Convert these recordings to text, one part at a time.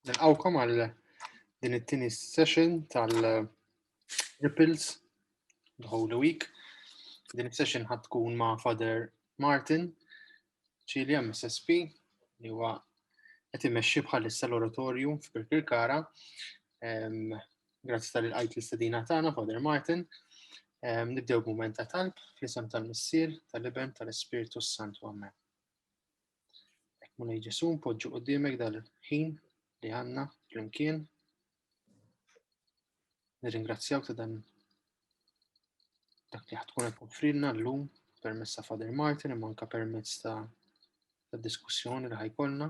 Nilqawkom għal din it-tieni session tal-Ripples the Holy Week. Din is-session ħad tkun ma' Father Martin Ċilja MSSP li huwa qed imexxi bħalissa l-oratorju f'Birkirkara Grazzi tal għajt l-istedina tagħna, Father Martin. Nibdew b'mument ta' talb fl-isem tal-Missier, tal-Iben, tal-Ispirtu s-Santu Amen. Ek mulej Ġesu, npoġġu qudiemek dal-ħin li għanna flimkien. Nirringrazzjawk ta' dan dak li ħatkun qed offrilna llum permezz ta' Father Martin imma anke permezz ta' diskussjoni li ħajkolna.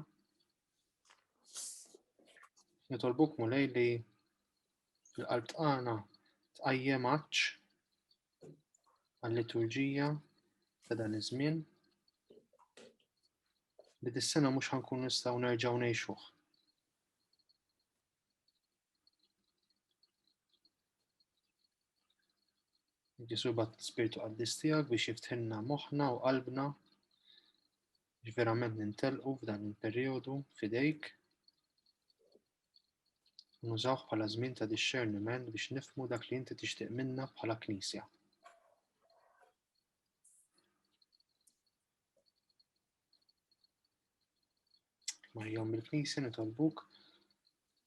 Nitolbuk mulej li l-qalb tqana tqajjem għaċ għal-liturġija ta' dan iż-żmien li dis-sena mhux ħankun nistgħu nerġgħu ngħixuh. Ġesu bat spirtu qaddis tiegħek biex jiftħinna moħħna u qalbna li verament nintelqu f'dan il-perjodu fidejk nużawh bħala żmien ta' discerniment biex nifmu dak li inti tixtieq minna bħala knisja. Marjom il-knisja nitolbuk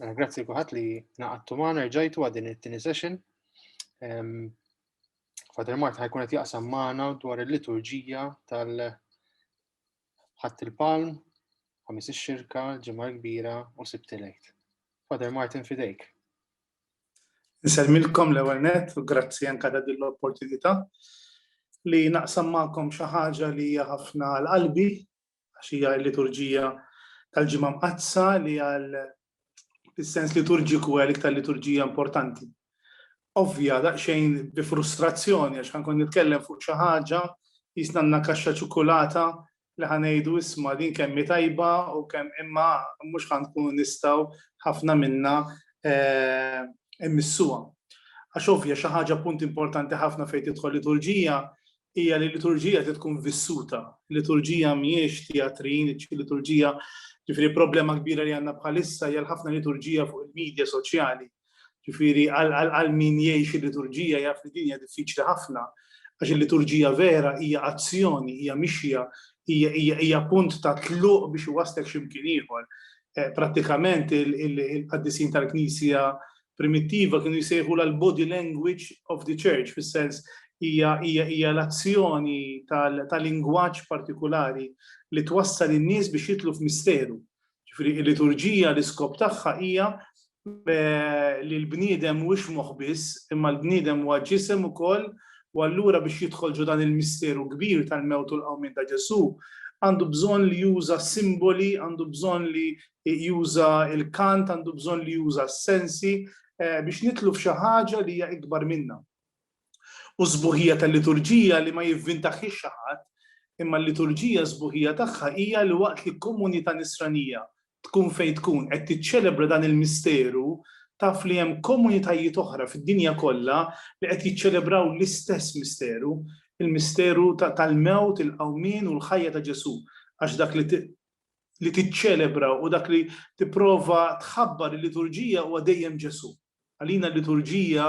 Mela, grazzi kuħat li naqattu maħna rġajtu għadin it-tini session. Father Mart ħajkun qed jaqsam maħna dwar il-liturġija tal-ħadd il-palm, ħamis ix-xirka, ġimgħa kbira u sibtilejt. Father Martin fidejk. Nselmilkom l-ewwel net u grazzi anke ta' din l-opportunità li naqsam magħkom xi ħaġa li hija ħafna l-qalbi għax hija l-liturġija tal-ġimgħa mqaddsa li għal fis-sens liturġiku għal iktar liturġija importanti. Ovvja daqsxejn bi frustrazzjoni għax ħankun nitkellem fuq xi ħaġa jisnanna kaxxa ċokolata li ħanejdu isma' din kemm tajba u kemm imma mhux ħankunu nistgħu ħafna minna eh, immissuha. Għax ovvja xi ħaġa punt importanti ħafna fejn tidħol liturġija hija li l-liturġija trid tkun vissuta. Liturġija mhijiex teatrin, liturġija ġifieri problema kbira li għandna bħalissa hija ħafna liturġija fuq il-medja soċjali. Ġifieri għal min jgħix il-liturġija jaf li din hija diffiċli ħafna għax il-liturġija vera hija azzjoni, hija mixja, hija punt ta' tluq biex iwaslek x'imkien ieħor. Eh, prattikament il-qaddisin tal-Knisja primittiva kienu jsejħulha l-body language of the church, fis-sens hija hija hija l-azzjoni ta' lingwaġġ partikulari li twassal in-nies biex jidħlu f'misteru. Ġifieri l-liturġija l-iskop tagħha hija li l-bniedem mhuwiex moħħ biss, imma l-bniedem huwa ġisem ukoll u allura biex jidħol ġo dan il-misteru kbir tal-mewt u l-qawmien ta' Ġesù għandu bżonn li juża simboli, għandu bżonn li juża l-kant, għandu bżonn li juża s-sensi eh, biex nitlu f'xi ħaġa li hija ikbar minna. U sbuħija tal-liturġija li ma jivvintaħħiex xi ħadd, imma l-liturġija sbuħija tagħha hija li waqt li komunità nisranija tkun fejn tkun qed tiċċelebra dan il-misteru taf li hemm komunitajiet oħra fid-dinja kollha li qed jiċċelebraw l-istess misteru, il-misteru tal-mewt, il-qawmin u l-ħajja ta' Ġesu, għax dak li li tiċċelebra u dak li tipprova tħabbar il-liturġija huwa dejjem Ġesù. Għalina l-liturġija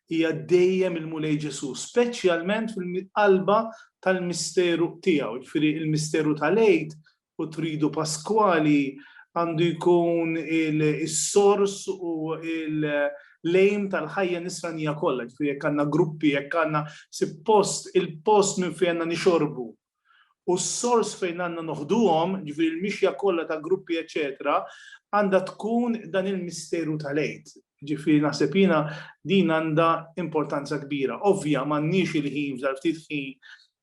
hija dejjem il-Mulej Ġesù, speċjalment fil-qalba tal-misteru tiegħu, ġifieri il-misteru tal-Għid u tridu Paskwali għandu jkun il-sors u il- lejm tal-ħajja nisranija kollha, ġifieri jekk għandna gruppi, jekk għandna suppost il-post minn fejn għandna nixorbu u s-sors fejn għandna noħduhom, jiġifieri l-mixja kollha ta' gruppi eċċetera, għandha tkun dan il-misteru tal-Għid. Jiġifieri naħseb jiena din għandha importanza kbira. Ovvja m'għandniex il-ħin f'dan ftit ħin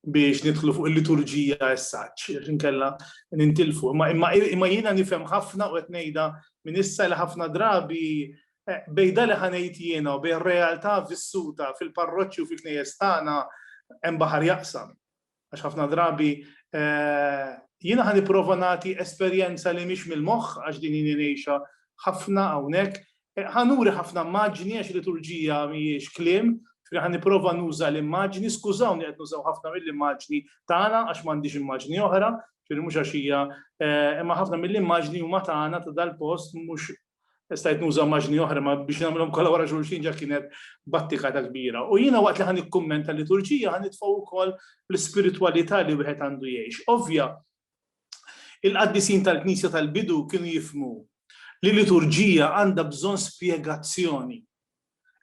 biex nidħlu fuq il-liturġija as such, għax inkella nintilfu. Imma jiena nifhem ħafna u qed ngħidha minn issa li ħafna drabi eh, bejda li ħanejt jiena u bejn realtà vissuta fil-parroċċi u fil-knejjes tagħna hemm baħar jaqsam. Għax ħafna drabi eh, jiena ħan nipprova nagħti esperjenza li mhix mill-moħħ għax din jini ngħixha ħafna hawnhekk. Eh, ħanuri ħafna maġni għax liturġija mhijiex kliem, ħan nipprova nuża l-immaġni, skużawni qed nużaw ħafna mill-immaġni tagħna għax m'għandix immaġni oħra, ġifieri mhux għax hija eh, imma ħafna mill-immaġni huma tagħna ta' dal-post mhux stajt nuża maġni oħra ma biex nagħmilhom kollha wara xulxin ġa kienet battika ta' kbira. U jiena waqt li ħan ikkummenta liturġija ħan nitfgħu wkoll l-ispiritwalità li wieħed għandu jgħix. Ovvja, il-qaddisin tal-Knisja tal-bidu kienu jifmu li liturġija għandha bżonn spjegazzjoni.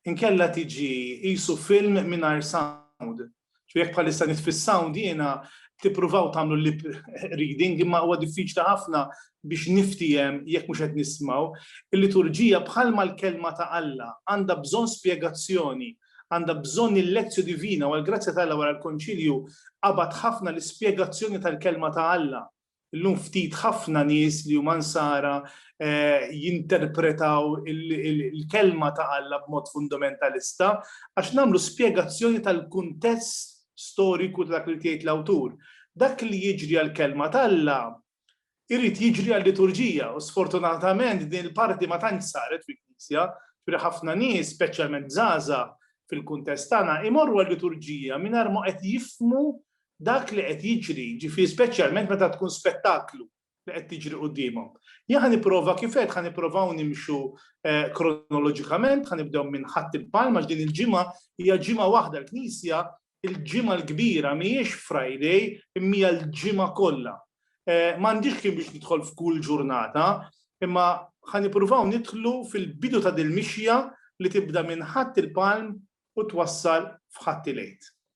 inkella tiġi qisu film mingħajr sound. Ġifieri jekk bħalissa nitfi s-sound jiena tippruvaw tagħmlu lip reading imma huwa diffiċli ħafna biex niftiehem jekk mhux qed nismgħu. Il-liturġija bħalma l-Kelma ta' Alla għandha bżonn spjegazzjoni, għandha bżonn il-lectio divina u għall-grazzja ta' Alla wara l-Konċilju qabad ħafna l-ispjegazzjoni tal-Kelma ta' Alla Illum ftit ħafna nies li huma nsara jinterpretaw il-Kelma ta' Alla b'mod fundamentalista għax nagħmlu spjegazzjoni tal-kuntest storiku ta' dak li ried jgħid l-awtur. Dak li jiġri għall-Kelma t'Alla jrid jiġri għal-liturġija u sfortunatament din il-parti ma tantx saret fil-Knisja, ġifieri ħafna nies, speċjalment żgħażagħ fil-kuntest tagħna, imorru għal-liturġija mingħajr ma qed jifhmu dak li qed jiġri, jiġifieri speċjalment meta tkun spettaklu li qed tiġri quddiemhom. Jien ħa nipprova kif għedt ħa nipprovaw nimxu kronoloġikament, ħa nibdew minn Ħadd il-Palm għax din il-ġimgħa hija ġimgħa waħda l-Knisja il-ġimgħa l-kbira mhijiex Friday imma hija l-ġimgħa kollha. M'għandix kien biex nidħol f'kull ġurnata, imma ħa nippruvaw nidħlu fil-bidu ta' dil-mixja li tibda minn Ħadd il-Palm u twassal f'Ħadd il-Għid.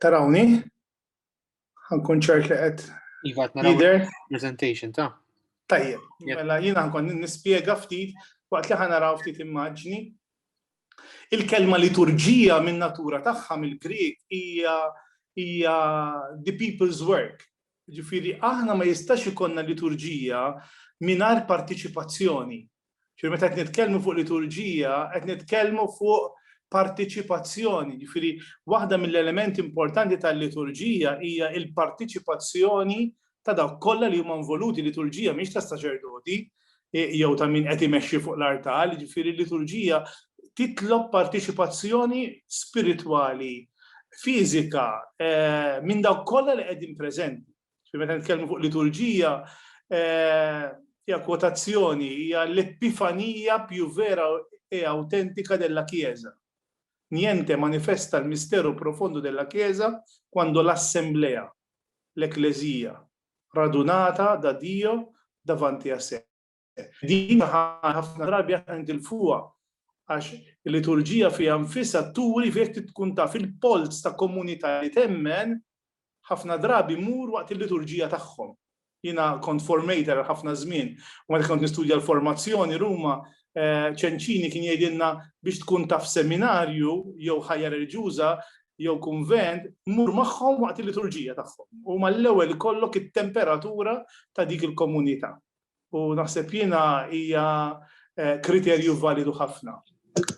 Tarawni? Għankun ċert li għed. Iva, naraw. Presentation ta' Tajjeb, mela jina nkun nispjega ftit waqt li ħanaraw ftit immaġni. Il-kelma liturġija minn natura tagħha mill-Grieg hija hija the people's work. Ġifieri aħna ma jistax ikonna liturġija mingħajr partiċipazzjoni Ġifieri meta qed nitkellmu fuq liturġija, qed nitkellmu fuq partiċipazzjoni, ġifieri waħda mill-elementi importanti tal-liturġija hija l-partiċipazzjoni ta' dawk kollha li huma involuti, liturġija mhix ta' saċerdoti jew ta' min qed imexxi fuq l-artal, ġifieri l-liturġija titlob partiċipazzjoni spiritwali, fiżika, minn dawk kollha li qegħdin preżenti. Meta nitkellmu fuq liturġija, eh, hija kwotazzjoni, hija l-epifanija più vera e autentika della Chiesa. Niente manifesta il mistero profondo della Chiesa quando l'assemblea, l-Eklezija, radunata da Dio davanti a sé. Din ħafna drabi aħna nitilfuha għax il-liturġija fiha nfisha turi fejn tkun taf il-polz ta' komunità li temmen ħafna drabi mur waqt il-liturġija tagħhom. Jiena kont formator ħafna żmien u meta kont nistudja l-formazzjoni Ruma eh, ċenċini kien jgħidilna biex tkun taf seminarju jew ħajja reliġjuża jew kunvent mur magħhom waqt il-liturġija tagħhom. U mal-ewwel kollok it-temperatura ta' dik il-komunità. u naħseb jiena hija kriterju validu ħafna.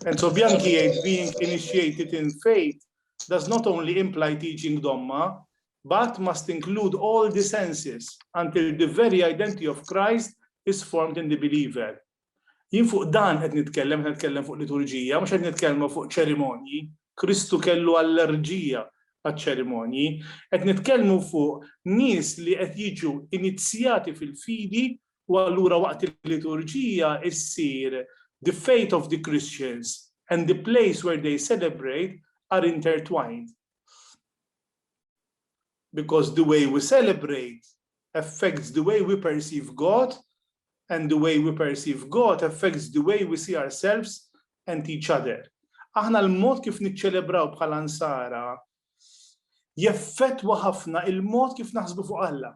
Enzo Bianchi jgħid being initiated in faith does not only imply teaching domma, but must include all the senses until the very identity of Christ is formed in the believer. Jien fuq dan qed nitkellem, qed nitkellem fuq liturġija, mhux qed nitkellmu fuq ċerimonji, Kristu kellu allerġija għaċ-ċerimonji. Qed nitkellmu fuq nies li qed jiġu inizzjati fil-fidi u allura waqt il-liturġija ssir The faith of the Christians and the place where they celebrate are intertwined. Because the way we celebrate affects the way we perceive God and the way we perceive God affects the way we see ourselves and each other. Aħna l-mod kif niċċelebraw bħala nsara jeffettwa ħafna il-mod kif naħsbu fuq Alla.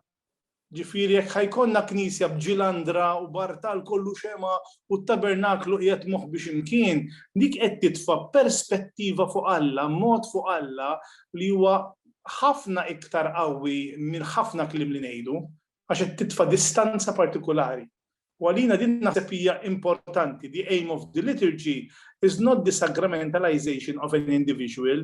Ġifieri jekk ħa jkollna knisja b'ġilandra u b'artal kollu xemgħa u t-tabernaklu qiegħed moħbi xi mkien, dik qed titfa' perspettiva fuq Alla, mod fuq Alla li huwa ħafna iktar qawwi minn ħafna kliem li ngħidu, għax qed titfa' distanza partikulari. U għalina din naħseb hija importanti, the aim of the liturgy is not the sacramentalization of an individual,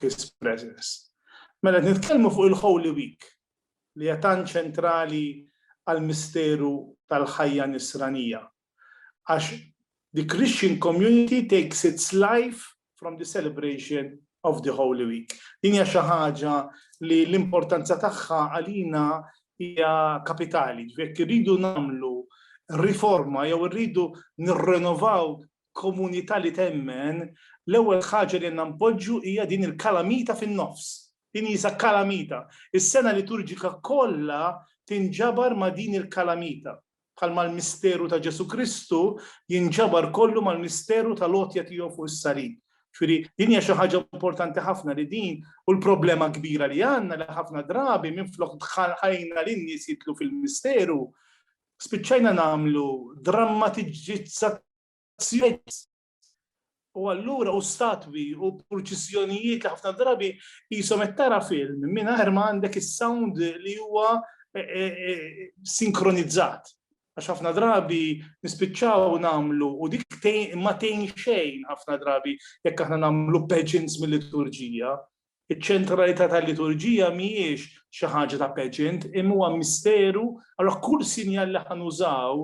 His Presence. Mela qed nitkellmu fuq il-Holy Week li hija tant ċentrali għall-misteru tal-ħajja Nisranija. Għax the Christian community takes its life from the celebration of the Holy Week. Din hija xi ħaġa li l-importanza tagħha għalina hija kapitali, ġifieri irridu nagħmlu riforma jew irridu nirrenovaw komunità li temmen, l-ewwel ħaġa li għandna npoġġu hija din il-kalamita fin-nofs. Din hija kalamita. Is-sena liturġika kollha tinġabar ma' din il-kalamita, bħalma l-misteru ta' Ġesù Kristu jinġabar kollu mal-misteru tal-għotja tiegħu fuq is-salib. Ġifieri din hija xi ħaġa importanti ħafna li din u l-problema kbira li għandna li ħafna drabi minflok dħalna lin-nies jidħlu fil-misteru, spiċċajna nagħmlu drammatiġizzazzjonijiet u allura u statwi u purċissjonijiet li ħafna drabi jisom qed tara film mingħajr ma għandek is-sound li huwa eh, eh, eh, sinkronizzat. Għax ħafna drabi nispiċċaw nagħmlu u dik ma tgħin xejn ħafna drabi jekk aħna nagħmlu pageants mill-liturġija Iċ-ċentralità tal-liturġija mhijiex xi ħaġa ta' pageant imma huwa misteru, allura kull sinjal li ħa nużaw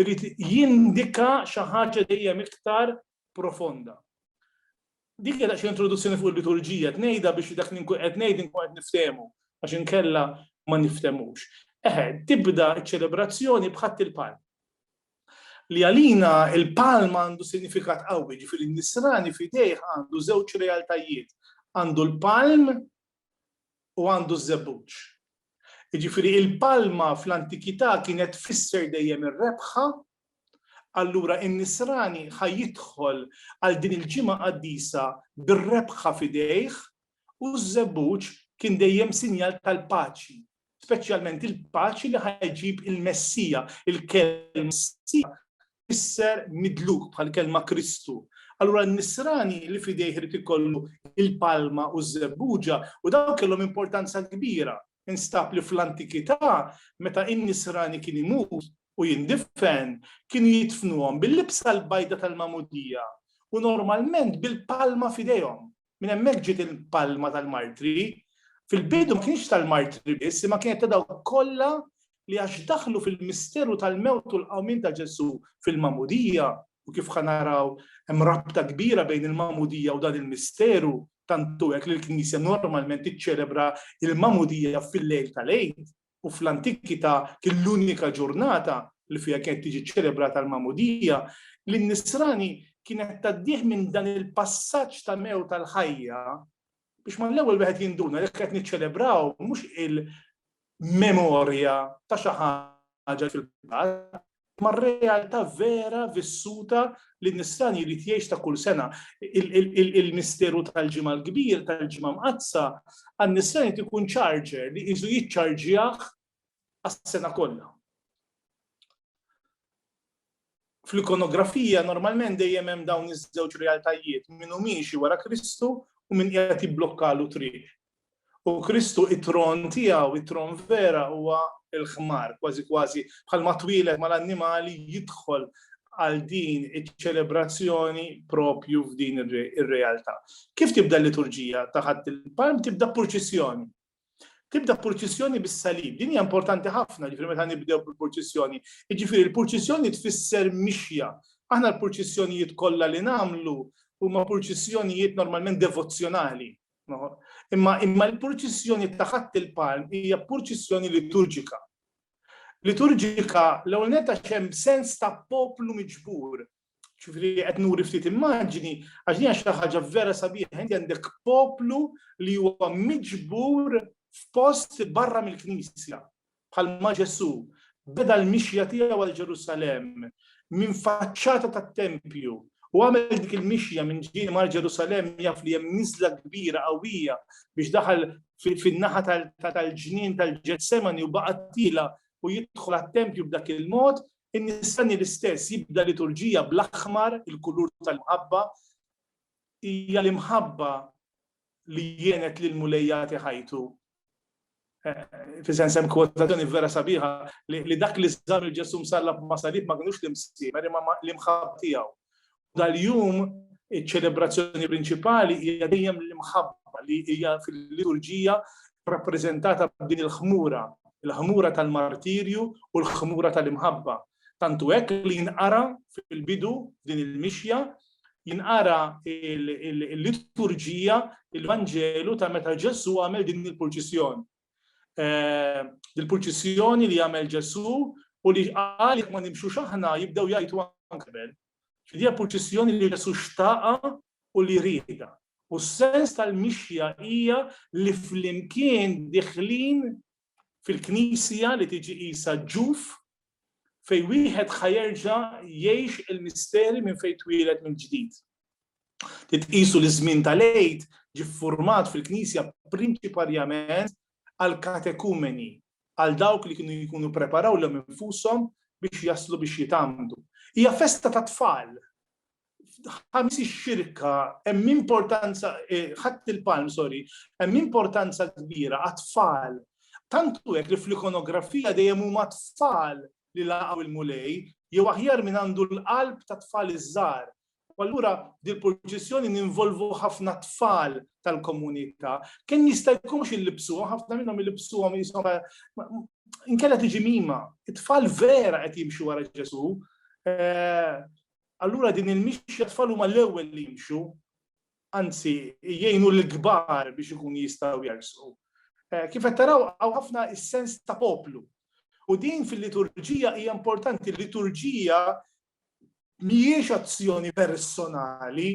irid jindika xi ħaġa dejjem iktar profonda. Dik hija daqsxejn introduzzjoni fuq il-liturġija, qed ngħidha biex dak li nkun qed ngħid inkun qed niftehmu għax inkella ma nifthemux. Eħe, tibda ċ-ċelebrazzjoni b'ħadd il-palm. li għalina il-palm għandu sinifikat qawwi, ġifieri n-nisrani f'idejh għandu żewġ realtajiet, għandu l-palm u għandu ż-żebbuġ. Ġifieri il-palma fl-antikità kienet tfisser dejjem ir-rebħa, allura n-nisrani ħa jidħol għal din il-ġimgħa qaddisa bir-rebħa f'idejh u ż-żebbuġ kien dejjem sinjal tal-paċi speċjalment il-paċi li ħajġib il-Messija, il-kelma Messija isser midluk bħal kelma Kristu. Allura n-nisrani li fidejh irid ikollu il-palma u z-zebbuġa u dawn kellhom importanza kbira. Instab li fl-antikità meta in-nisrani kien imut u jindifen kien jitfnuhom bil-libsa l-bajda tal-mamudija u normalment bil-palma fidejhom. Minn hemmhekk ġiet il-palma tal-martri. Fil-bidu ma kienx tal-martri biss, imma kienet ta' dawk kollha li għax daħlu fil-misteru tal-mewt u l-qawmien ta' Ġesù fil-magħmudija, u kif ħa naraw hemm rabta kbira bejn il-magħmudija u dan il-misteru, tant hu hekk li l-Knisja normalment tiċċelebra l-magħmudija fil-lejl tal-Għid. u fl-antikità kien l-unika ġurnata li fiha kienet tiġi ċċelebrata l-magħmudija, li n-nisrani kienet tgħaddih minn dan il-passaġġ ta' mewt għal ħajja, biex mal-ewwel wieħed jinduna li qed niċċelebraw mhux il-memorja ta' xi ħaġa li fil-passat, mar-realtà vera vissuta li n-nisran jrid jgħix ta' kull sena. Il-misteru tal-Ġimgħa l-Kbir, tal-Ġimgħa Mqaddsa, għan-nisran jrid ikun charger li qisu jiċċarġjah għas-sena kollha. Fl-ikonografija normalment dejjem hemm dawn iż-żewġ realtajiet, min hu miexi wara Kristu u min qiegħed jibblokkalu triq. U Kristu it-tron tiegħu, it-tron vera huwa l-ħmar, kważi kważi bħalma twieled mal-annimali jidħol għal din iċ-ċelebrazzjoni propju f'din ir-realtà. Kif tibda l-liturġija ta' ħadd il-palm tibda purċissjoni. Tibda purċissjoni bis-salib. Din hija importanti ħafna ġifieri meta nibdew bil-purċissjoni. Jiġifieri l-purċissjoni tfisser mixja. Aħna l-purċissjonijiet kollha li nagħmlu huma purċissjonijiet normalment devozzjonali Imma imma l-purċissjoni ta' ħadd il-palm hija purċissjoni liturġika. Liturġika l-ewwel netta xem sens ta' poplu miġbur. Ġifieri qed nuri ftit immaġini għax din xi ħaġa vera sabiħa inti għandek poplu li huwa miġbur f'post barra mill-Knisja. Bħalma Ġesù beda l-mixja tiegħu għal Ġerusalemm minn faċċata tat-tempju u għamel dik il-mixja minn ġieli mar Ġerusalemm jaf li hemm niżla kbira qawwija biex daħal fin-naħa tal-ġnien tal-Ġetsemani u baqa' tiela' u jidħol għat-tempju b'dak il-mod, in-Nisrani l-istess jibda liturġija bl-aħmar, il-kulur tal-imħabba. Hija l-imħabba li għenet lill-Mulej jagħti ħajtu fisen sem kwotazzjoni vera sabiħa li dak li żar il-Ġesu msallab ma' salib ma kinux l-imsiemer imma l-imħab tiegħu. Dal-jum iċ-ċelebrazzjoni prinċipali hija dejjem l-imħabba li hija fil-liturġija rappreżentata b'din il-ħmura, il-ħmura tal-martirju u l-ħmura tal-imħabba. Tantu hekk li jinqara fil-bidu din il-mixja jinqara l-liturġija, il-Vanġelu ta' meta Ġesu għamel din il-purċissjoni. Eh, il-purċissjoni li għamel Ġesu u li għal ma nimxu xaħna jibdew jajtu għankbel. Fidija purċissjoni li Ġesu xtaqa u li rida. U s-sens tal-mixja hija li flimkien diħlin fil-Knisja li tiġi qisha ġuf fejn wieħed ħa jerġa' jgħix il-misteri minn fejn twieled mill-ġdid. Titqisu li ż-żmien tal-Għid ġie ffurmat fil-Knisja prinċiparjament għall-katekumeni, għal dawk li kienu jkunu ppreparaw lilhom infushom biex jaslu biex jitgħammdu. Hija festa tat-tfal, ħamis ix-xirka hemm importanza eh, ħadd il-palm, sorry, hemm importanza kbira għat-tfal. Tantu hekk li fl-ikonografija dejjem huma tfal li laqgħu il-mulej, jew aħjar minn għandu l-qalb ta' tfal iż-żgħar. U allura dil-proċessjoni ninvolvu ħafna tfal tal-komunità. Kemm jista' jkunx illibsuhom, ħafna minnhom illibsuhom jisom inkella tiġi mima. It-tfal vera qed jimxu wara Ġesu. Eh, Allura din il-mixja t-tfal huma l-ewwel li jimxu, anzi jgħinu lill-kbar biex ikunu jistgħu jersqu. Kif qed taraw hawn ħafna s-sens ta' poplu. U din fil-liturġija hija importanti, l-liturġija mhijiex azzjoni personali,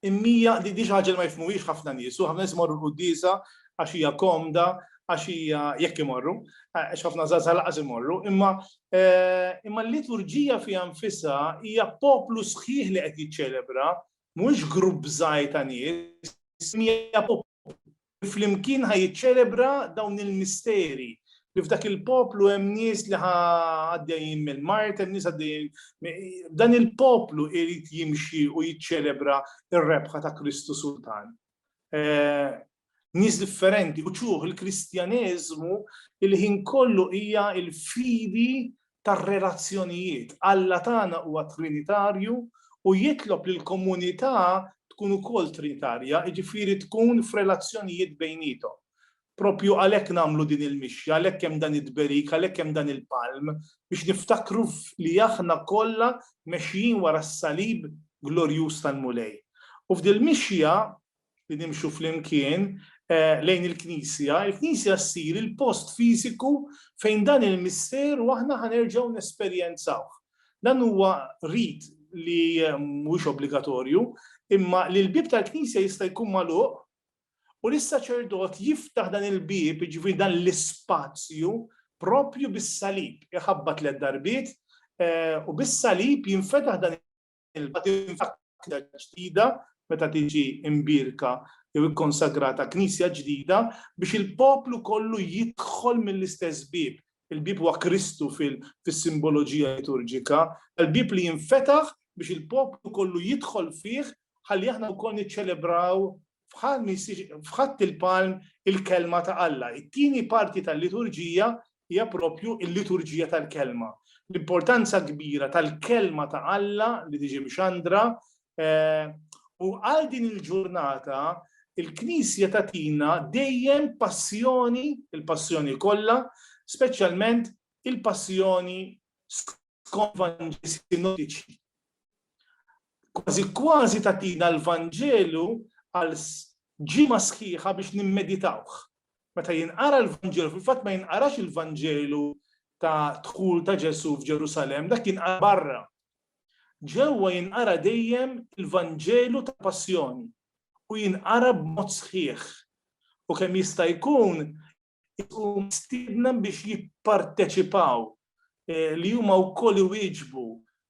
Imnija, di xi ħaġa li ma jifhmuhiex ħafna nies u ħafna nies imorru l-quddiesa għax hija komda, għax hija, jekk imorru, għax ħafna żgħażagħ lanqas imorru, imma imma l-liturġija fiha nfisha hija poplu sħiħ li qed jiċċelebra, mhuwiex grupp żgħir ta' nies, imma hija poplu li flimkien ħa jiċċelebra dawn il-misteri, li f'dak il-poplu hemm nies li ħa għaddejjin mill-mart, hemm nies għaddejjin. Dan il-poplu irid jimxi u jiċċelebra r-rebħa ta' Kristu Sultan. Eh, nies differenti, u ċuħ il-Kristjaneżmu il-ħin kollu hija il-fidi tar-relazzjonijiet. Alla tagħna huwa trinitarju u jitlob li l-komunità tkun ukoll trinitarja, jiġifieri tkun f'relazzjonijiet bejniethom. Proprju għalhekk nagħmlu din il-mixja, għalhekk hemm dan it-tberik, għalhekk hemm dan il-palm, biex niftakru li aħna kollha mexjin wara s-salib glorjuż tal-Mulej. U f'dil-mixja li nimxu flimkien lejn il-Knisja, il-Knisja ssir il-post fiżiku fejn dan il-misteru aħna ħa nerġgħu nesperjenzawh. Dan huwa rit li mhuwiex obbligatorju, imma li l-bieb tal-Knisja jista' jkun magħluq u li s-saċerdot jiftaħ dan il-bieb, jiġifieri dan l-ispazju, proprju bis-salib. Iħabbat tliet darbiet u bis-salib jinfetaħ dan l-ilma tinfakra ġdida meta tiġi imbierka jew ikkonsagrata knisja ġdida biex il-poplu kollu jidħol mill-istess bieb. Il-bieb huwa Kristu fis-simboloġija liturġika, l-bieb li jinfetaħ biex il-poplu kollu jidħol fih ħalli aħna wkoll niċċelebraw f'ħadd il-palm il-Kelma ta' Alla. It-tieni parti tal-liturġija hija proprju l-liturġija tal-Kelma. L-importanza kbira tal-Kelma ta' Alla li tiġi mxandra eh, u għal din il-ġurnata il-Knisja tatina dejjem passjoni, il-passjoni kollha, speċjalment il-passjoni skont Vanġeli sinottiċi. Kważi kważi tagħtina l-Vanġelu għal ġimgħa sħiħa biex nimmeditawh. Meta jinqara l-Vanġelu, fil-fatt ma jinqarax il-Vanġelu ta' dħul ta' Ġesu f'Ġerusalem, dak jinqara barra. Ġewwa jinqara dejjem il-Vanġelu ta' Passjoni u jinqara b'mod sħiħ. U kemm jista' jkun u mistiedna biex jipparteċipaw eh, li huma wkoll iwieġbu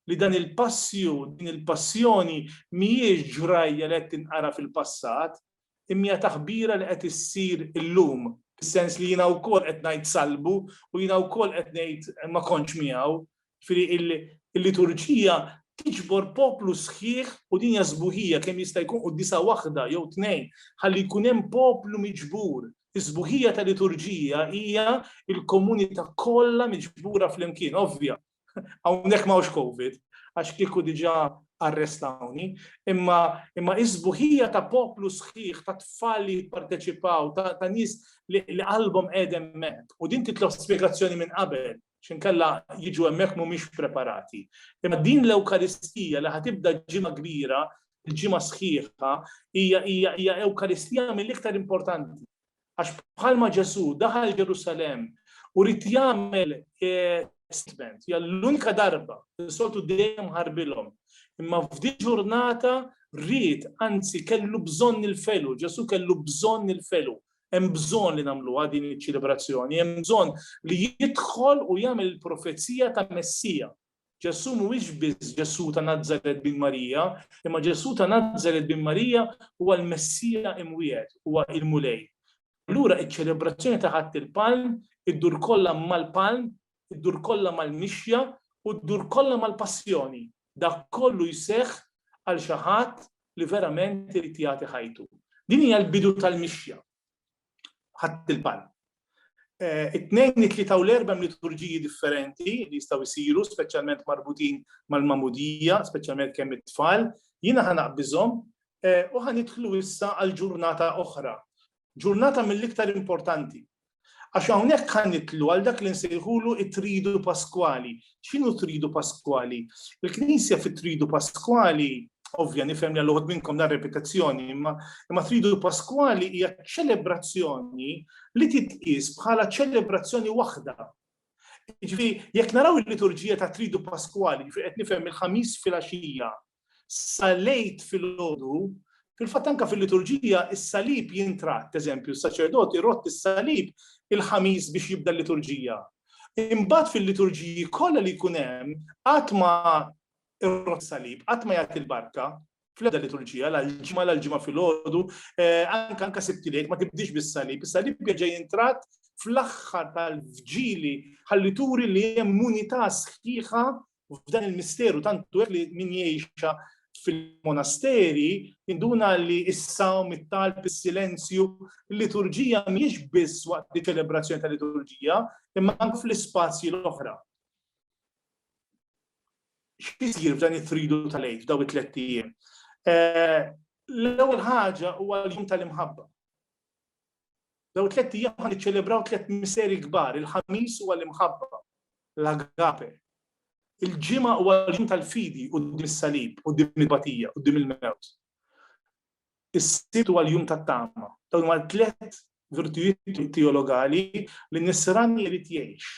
li dan il-passju, din il-passjoni mhijiex ġrajja li qed tinqara fil-passat, imma taħbira li qed issir illum, fis-sens li jiena wkoll qed ngħid salbu u jiena wkoll qed ngħid ma kontx miegħu, Ġifieri il-liturġija tiġbor poplu sħiħ u din hija sbuħija kemm jista' jkun qudiesa waħda jew tnejn ħalli jkun hemm poplu miġbur. Is-sbuħija ta' liturġija hija l-komunità kollha miġbura flimkien, ovvja. Hawnhekk ma hawnx COVID, għax kieku diġà arrestawni, imma imma is-sbuħija ta' poplu sħiħ ta' tfal li jipparteċipaw, ta' nies li qalbhom qegħdem hemmhekk. U din titlob spjegazzjoni minn qabel. x'inkella jiġu hemmhekk mhumiex preparati. Imma din l-Ewkaristija li ħatibda ġimgħa kbira, il-ġimgħa sħiħa, hija hija hija Ewkaristija mill-iktar importanti. Għax bħalma Ġesù daħal Ġerusalemm u rid jagħmel statement, hija l-unika darba li soltu dejjem ħarbilhom. Imma f'di ġurnata rrid, anzi kellu bżonn il-felu, Ġesù kellu bżonn il-felu. Hemm bżonn li nagħmluha din iċ-ċelebrazzjoni, hemm bżonn li jidħol u jagħmel il-profezija ta' Messija. Ġesù mhuwiex biss Ġesù ta' Nazaret bin Marija, imma Ġesù ta' Nazaret bin Marija huwa l-Messija imwiegħed, huwa il-Mulej. Allura iċ-ċelebrazzjoni ta' Ħadd il-Palm iddur kollha mal-Palm id-dur kollha mal-mixja u ddur kollha mal-passjoni, dak kollu jseħħ għal xi ħadd li verament irid jagħti ħajtu. Din hija l-bidu tal-mixja. Ħadt il-palm. It-Tnejn, it-Tlieta u l-Erbgħa hemm liturġiji differenti li jistgħu jsiru, speċjalment marbutin mal-magħmudija, speċjalment kemm it-tfal. Jiena ħa naqbiżhom u ħa nidħlu issa għal ġurnata oħra. Ġurnata mill-iktar importanti. Għax hawnhekk ħa nidħlu għal dak li nsejħulu t-Tridu Paskwali. X'inhu t-Tridu Paskwali? Il-Knisja fit-Tridu Paskwali, ovvja nifhem li għal uħud minnkom dan repetizzjoni, imma imma Tridu Paskwali hija ċelebrazzjoni li titqies bħala ċelebrazzjoni waħda. Ġifi, jekk naraw il-liturġija ta' Tridu Paskwali, ġifi qed nifhem il-ħamis fil-għaxija, sal-Għid filgħodu, fil-fatt anke fil-liturġija is-salib jintratt, eżempju, s-saċerdot irodd is-salib il-Ħamis biex jibda l-liturġija. Imbagħad fil-liturġiji kollha li jkun hemm qatt ma irrod salib, qatt ma jagħti l-barka, fl-ebda liturġija, l-ġimma l-ġimma fil-ħodu, eh, anka anka sibtilek, ma tibdix bis-salib, is-salib bieġa jintrat fl-axħar tal-vġili ħalli turi li hemm unità sħiħa f'dan il-misteru tantu hekk li min jgħixha fil-monasteri induna li s-sawm, it-talb, is-silenzju, l-liturġija mhijiex biss waqt li ċelebrazzjoni ta' liturġija, imma anke fl-ispazji l-oħra. X'isir f'dan it-tridu tal-għid f'daw it-tlet ijiem? Eh, l-ewwel ħaġa huwa l-jum tal-imħabba. Dawn tlett ijiem ħa niċċelebraw tlett misteri kbar, il-Ħamis huwa l-imħabba, l-agape. Il-Ġimgħa huwa l-jum tal-fidi quddiem is-salib, quddiem il-batija, quddiem il-mewt. Is-Sibt huwa l-jum tat-tama. Dawn huma tlett virtujiet teologali li nisran jrid jgħix.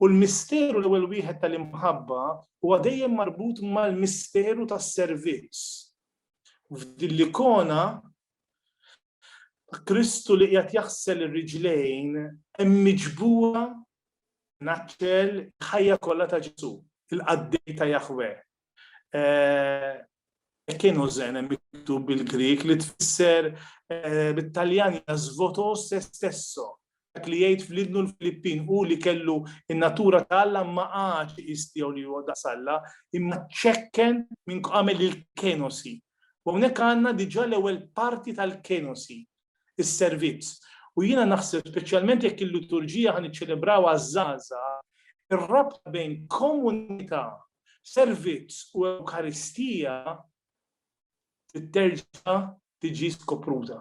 U l-misteru l-ewwel wieħed tal-imħabba huwa dejjem marbut mal-misteru tas-servizz. F'din l-ikona Kristu li qiegħed jaħsel ir-riġlejn hemm miġbura naċċel ħajja kollha ta' Ġesu, il-qaddej ta' Jahweh, Kienu zen miktub bil-Grik li tfisser eh, bit-Taljan jasvoto se stesso. Dak li jgħid fl-idnu l-Filippin u li kellu in-natura ta' Alla ma għax istiegħu li huwa daqs Alla, imma ċekken minn għamel il-kenosi. U hawnhekk għandna diġà l-ewwel parti tal-kenosi. is-servizz. U jiena naħseb speċjalment jekk il-liturġija ħa niċċelebraw għaż-żgħażagħ, ir-rabta bejn komunità, servizz u Ewkaristija titterġa' tiġi skopruta.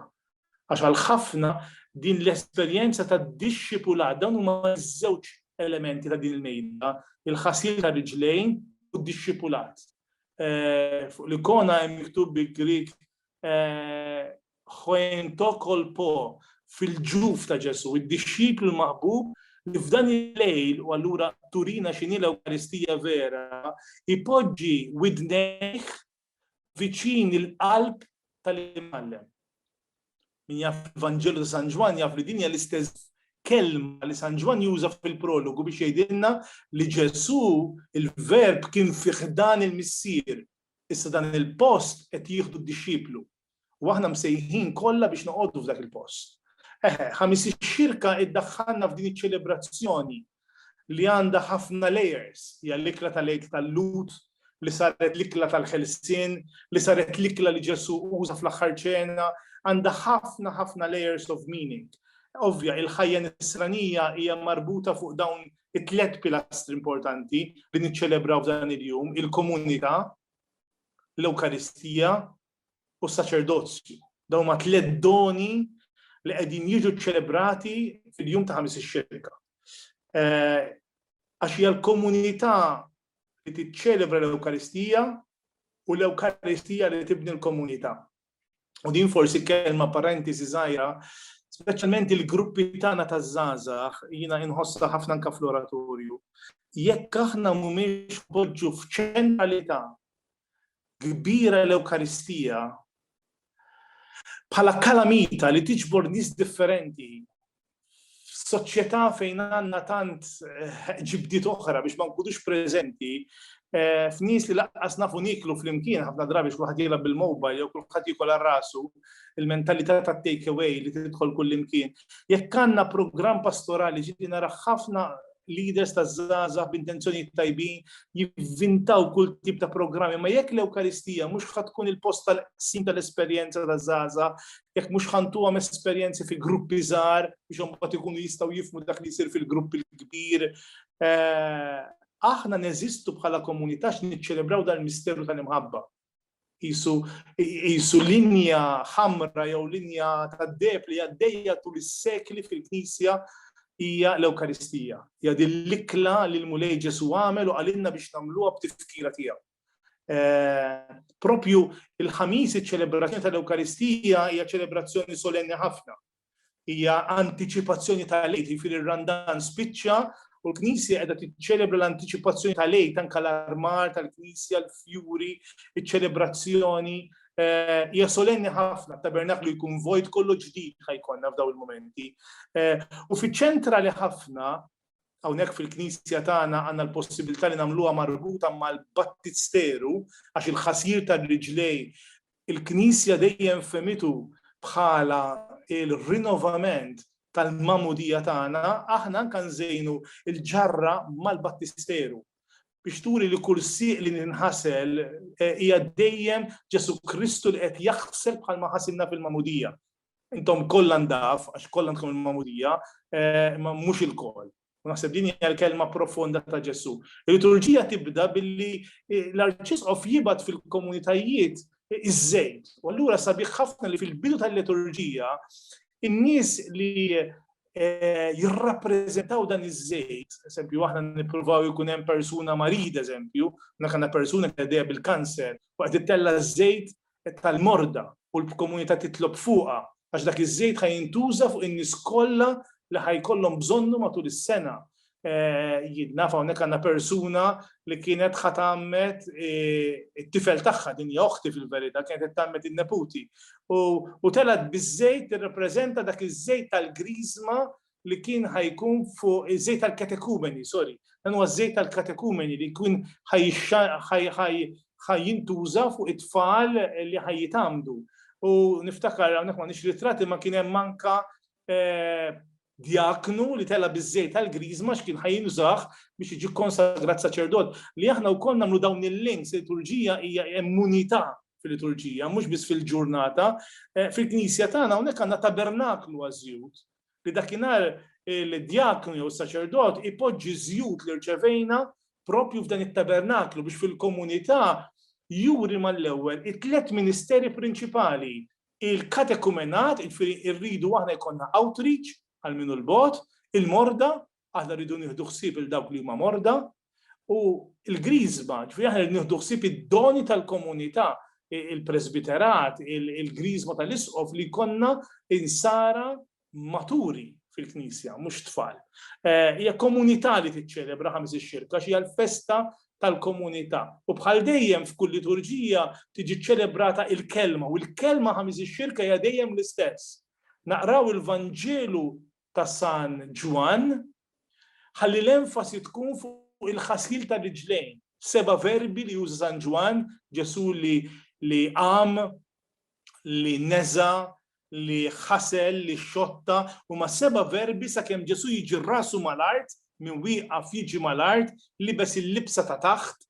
Għax għal ħafna din l-esperjenza ta' dixxipula dawn huma żewġ elementi ta' din il-mejda, il-ħasil ta' riġlejn u d-dixxipulat. Eh, fuq l-ikona hemm miktub bi Grik eh, Huen To Kol Po, fil-ġuf ta' Ġesù, id-dixxiplu l-maħbub li f'dan il-lejl, u allura turina x'inhi l-Ewkaristija vera, ipoġġi widnejh viċin il-qalb tal-Imgħallem. Min jaf il-Vanġelu ta' San Ġwann jaf li din hija l-istess kelma li San Ġwann juża fil-prologu biex jgħidilna li Ġesù il-Verb kien fi ħdan il-Missier, issa dan il-post qed jieħdu d-dixxiplu. U aħna msejħin kollha biex noqogħdu f'dak il-post. Eħe, ħamis ix-xirka iddaħħalna f'din iċ-ċelebrazzjoni li għandha ħafna layers, hija l-ikla tal-Għid tal-Lhud, li saret l-ikla tal-ħelsien, li saret l-ikla li Ġesu uża fl-aħħar ċena, għandha ħafna ħafna layers of meaning. Ovvja, il-ħajja nisranija hija marbuta fuq dawn it-tlet pilastri importanti li niċċelebraw f'dan il-jum, il-komunità, l-Ewkaristija u s-saċerdozju. Dawn huma tliet doni li qegħdin jiġu ċċelebrati fil-jum ta' ħamis ix-xirka. Eh, għax hija l-komunità li tiċċelebra l-Ewkaristija u l-Ewkaristija li tibni l-komunità. U din forsi kelma parentesi żgħira, speċjalment il-gruppi tagħna ta' żgħażagħ jiena inħossha ħafna anke fl-oratorju. Jekk aħna mhumiex poġġu f'ċentralità kbira l-Ewkaristija bħala kalamita li tiġbor nies differenti f'soċjetà fejn għandna tant eh, ġibdiet oħra biex ma nkunux preżenti eh, f'nies li laqqas nafu niklu flimkien ħafna drabi x'kulħadd jilgħab bil-mobile jew kulħadd jikol rasu il-mentalità ta' take away li tidħol kullimkien. Jekk għandna programm pastorali ġieli nara ħafna leaders ta' żgħażagħ b'intenzjonijiet tajbin jivvintaw kull tip ta' programmi, ma jekk l-Ewkaristija mhux ħad tkun il-post tal-qsim tal-esperjenza ta' żgħażagħ, jekk mhux ħantuhom esperjenzi fi gruppi żgħar biex imbagħad ikunu jistgħu jifmu dak li jsir fil-grupp il-kbir. Eh, aħna neżistu bħala komunità x'niċċelebraw dal-misteru tal-imħabba. jisu linja ħamra jew linja tad-deb li għaddejja tul is-sekli fil-Knisja hija l-Ewkaristija. Hija din l-ikla li l-Mulej Ġesu għamel u għalinna biex nagħmluha b'tifkira tiegħu. Eh, propju il-ħamis iċ-ċelebrazzjoni tal-Ewkaristija hija ċelebrazzjoni solenni ħafna. Hija antiċipazzjoni tal-Għid, jiġifieri r-Randan spiċċa u l-Knisja qiegħda tiċċelebra l-antiċipazzjoni tal-Għid anke l-armar tal-Knisja, l-fjuri, iċ-ċelebrazzjoni. Eh, hija solenni ħafna, tabernaklu jkun vojt kollu ġdid ħajkonna f'daw il-momenti. Eh, u fiċ-ċentra li ħafna hawnhekk fil-Knisja tagħna għandna l-possibilità li nagħmluha marbuta mal-battisteru għax il-ħasir tal-riġlej Il-Knisja dejjem fehmitu bħala l-rinnovament tal-Magħmudija tagħna, aħna anke nżejnu l-ġarra mal-Battisteru biex turi li kull sieq li ninħasel hija dejjem Ġesù Kristu li qed jaħsel bħalma ħasilna fil-Magħmudija. Intom kollha ndaf, għax kollha għandkom il-Magħmudija, imma mhux ilkoll. U naħseb din hija l-kelma profonda ta' Ġesù. Il-liturġija tibda billi eh, l-arċisqof jibgħat fil-komunitajiet eh, iż-żejt. U allura sabiħ ħafna li fil-bidu tal-liturġija in-nies li eh, jirrappreżentaw dan iż-żejt, eżempju, aħna nippruvaw jkun hemm persuna marid, eżempju, nakanna persuna li bil-kanser, waqt ittella żejt tal-morda u l-bkomunità titlob fuqha għax dak iż-żejt ħa jintuża fuq in-nies kollha li ħa jkollhom bżonnu matul is-sena. Jien naf hawnhekk għandna persuna li kienet ħa tgħammed it-tifel tagħha din hija oħti fil-verità kienet qed tgħammed in-neputi u telgħet biż-żejt tirrappreżenta dak iż-żejt tal-griżma li kien ħajkun fuq iż-żejt tal-katekumeni, sorry, dan huwa żejt tal-katekumeni li jkun ħajjintuża fuq it-tfal li ħajjitamdu. U niftakar hawnhekk ma nix ritrati ma kien hemm manka eh, djaknu li tella biż-żejt tal-griżma x'kien ħajinżaħ biex jiġi konsagrat saċerdot. Li aħna wkoll nagħmlu dawn il-links liturġija hija immunità fil-liturġija, mhux biss fil-ġurnata. Eh, fil-Knisja tagħna hawnhekk għandna tabernaklu għażjut. li dakinhar il-djaknu jew is-saċerdot ipoġġi ż-żjut li rċevejna propju f'dan it-tabernaklu biex fil-komunità juri mal-ewwel it-tliet ministeri prinċipali, il-katekumenat, jiġifieri rridu aħna jkollna outreach għal min hu l-bogħod, il-morda Aħna rridu nieħdu ħsieb il dawk li huma morda u l-griżma, ġifieri aħna rridu nieħdu ħsieb id-doni tal-komunità, il-presbiterat, il-griżma tal-isqof li konna insara maturi fil-Knisja, mhux tfal. Eh, hija komunità li tiċċelebra ħames ix-xirka, xi l-festa tal-komunità. U bħal dejjem f'kull liturġija tiġi ċelebrata il-kelma u l-kelma ħamis ix-xirka hija dejjem l-istess. Naqraw il-Vanġelu ta' San Ġwann, ħalli l-enfasi tkun fuq il-ħasil tar-riġlejn, seba' verbi li juża San Ġwann, Ġesù li qam, li neża', li ħasel, li xotta, huma seba' verbi sakemm Ġesù jiġi rasu mal-art, min wieqaf jiġi mal-art, libes il-libsa ta' taħt,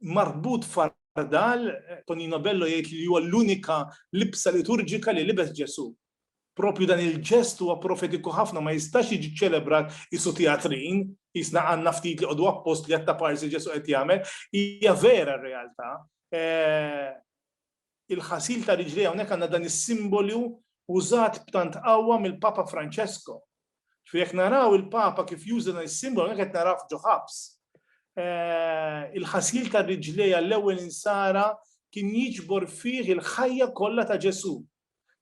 marbut f'għardal, Tonino Bello jgħid li huwa l-unika libsa liturġika li libes Ġesù. Proprju dan il-ġest huwa profetiku ħafna ma jistax jiġi ċċelebrat qisu tjatrin, qisna għandna ftit li qogħdu appost li għat-taparsi Ġesù qed jagħmel, hija vera r-realtà. il-ħasil ta' riġlejha, hawnhekk għandna dan is-simbolu użat b'tant qawwa mill-Papa Francesco. Ġifieri jekk naraw il-Papa kif juża dan is-simbolu, hawnhekk qed narawh ġo ħabs. Il-ħasil ta' riġlejha għall-ewwel insara kien jiġbor fih il-ħajja kollha ta' Ġesù.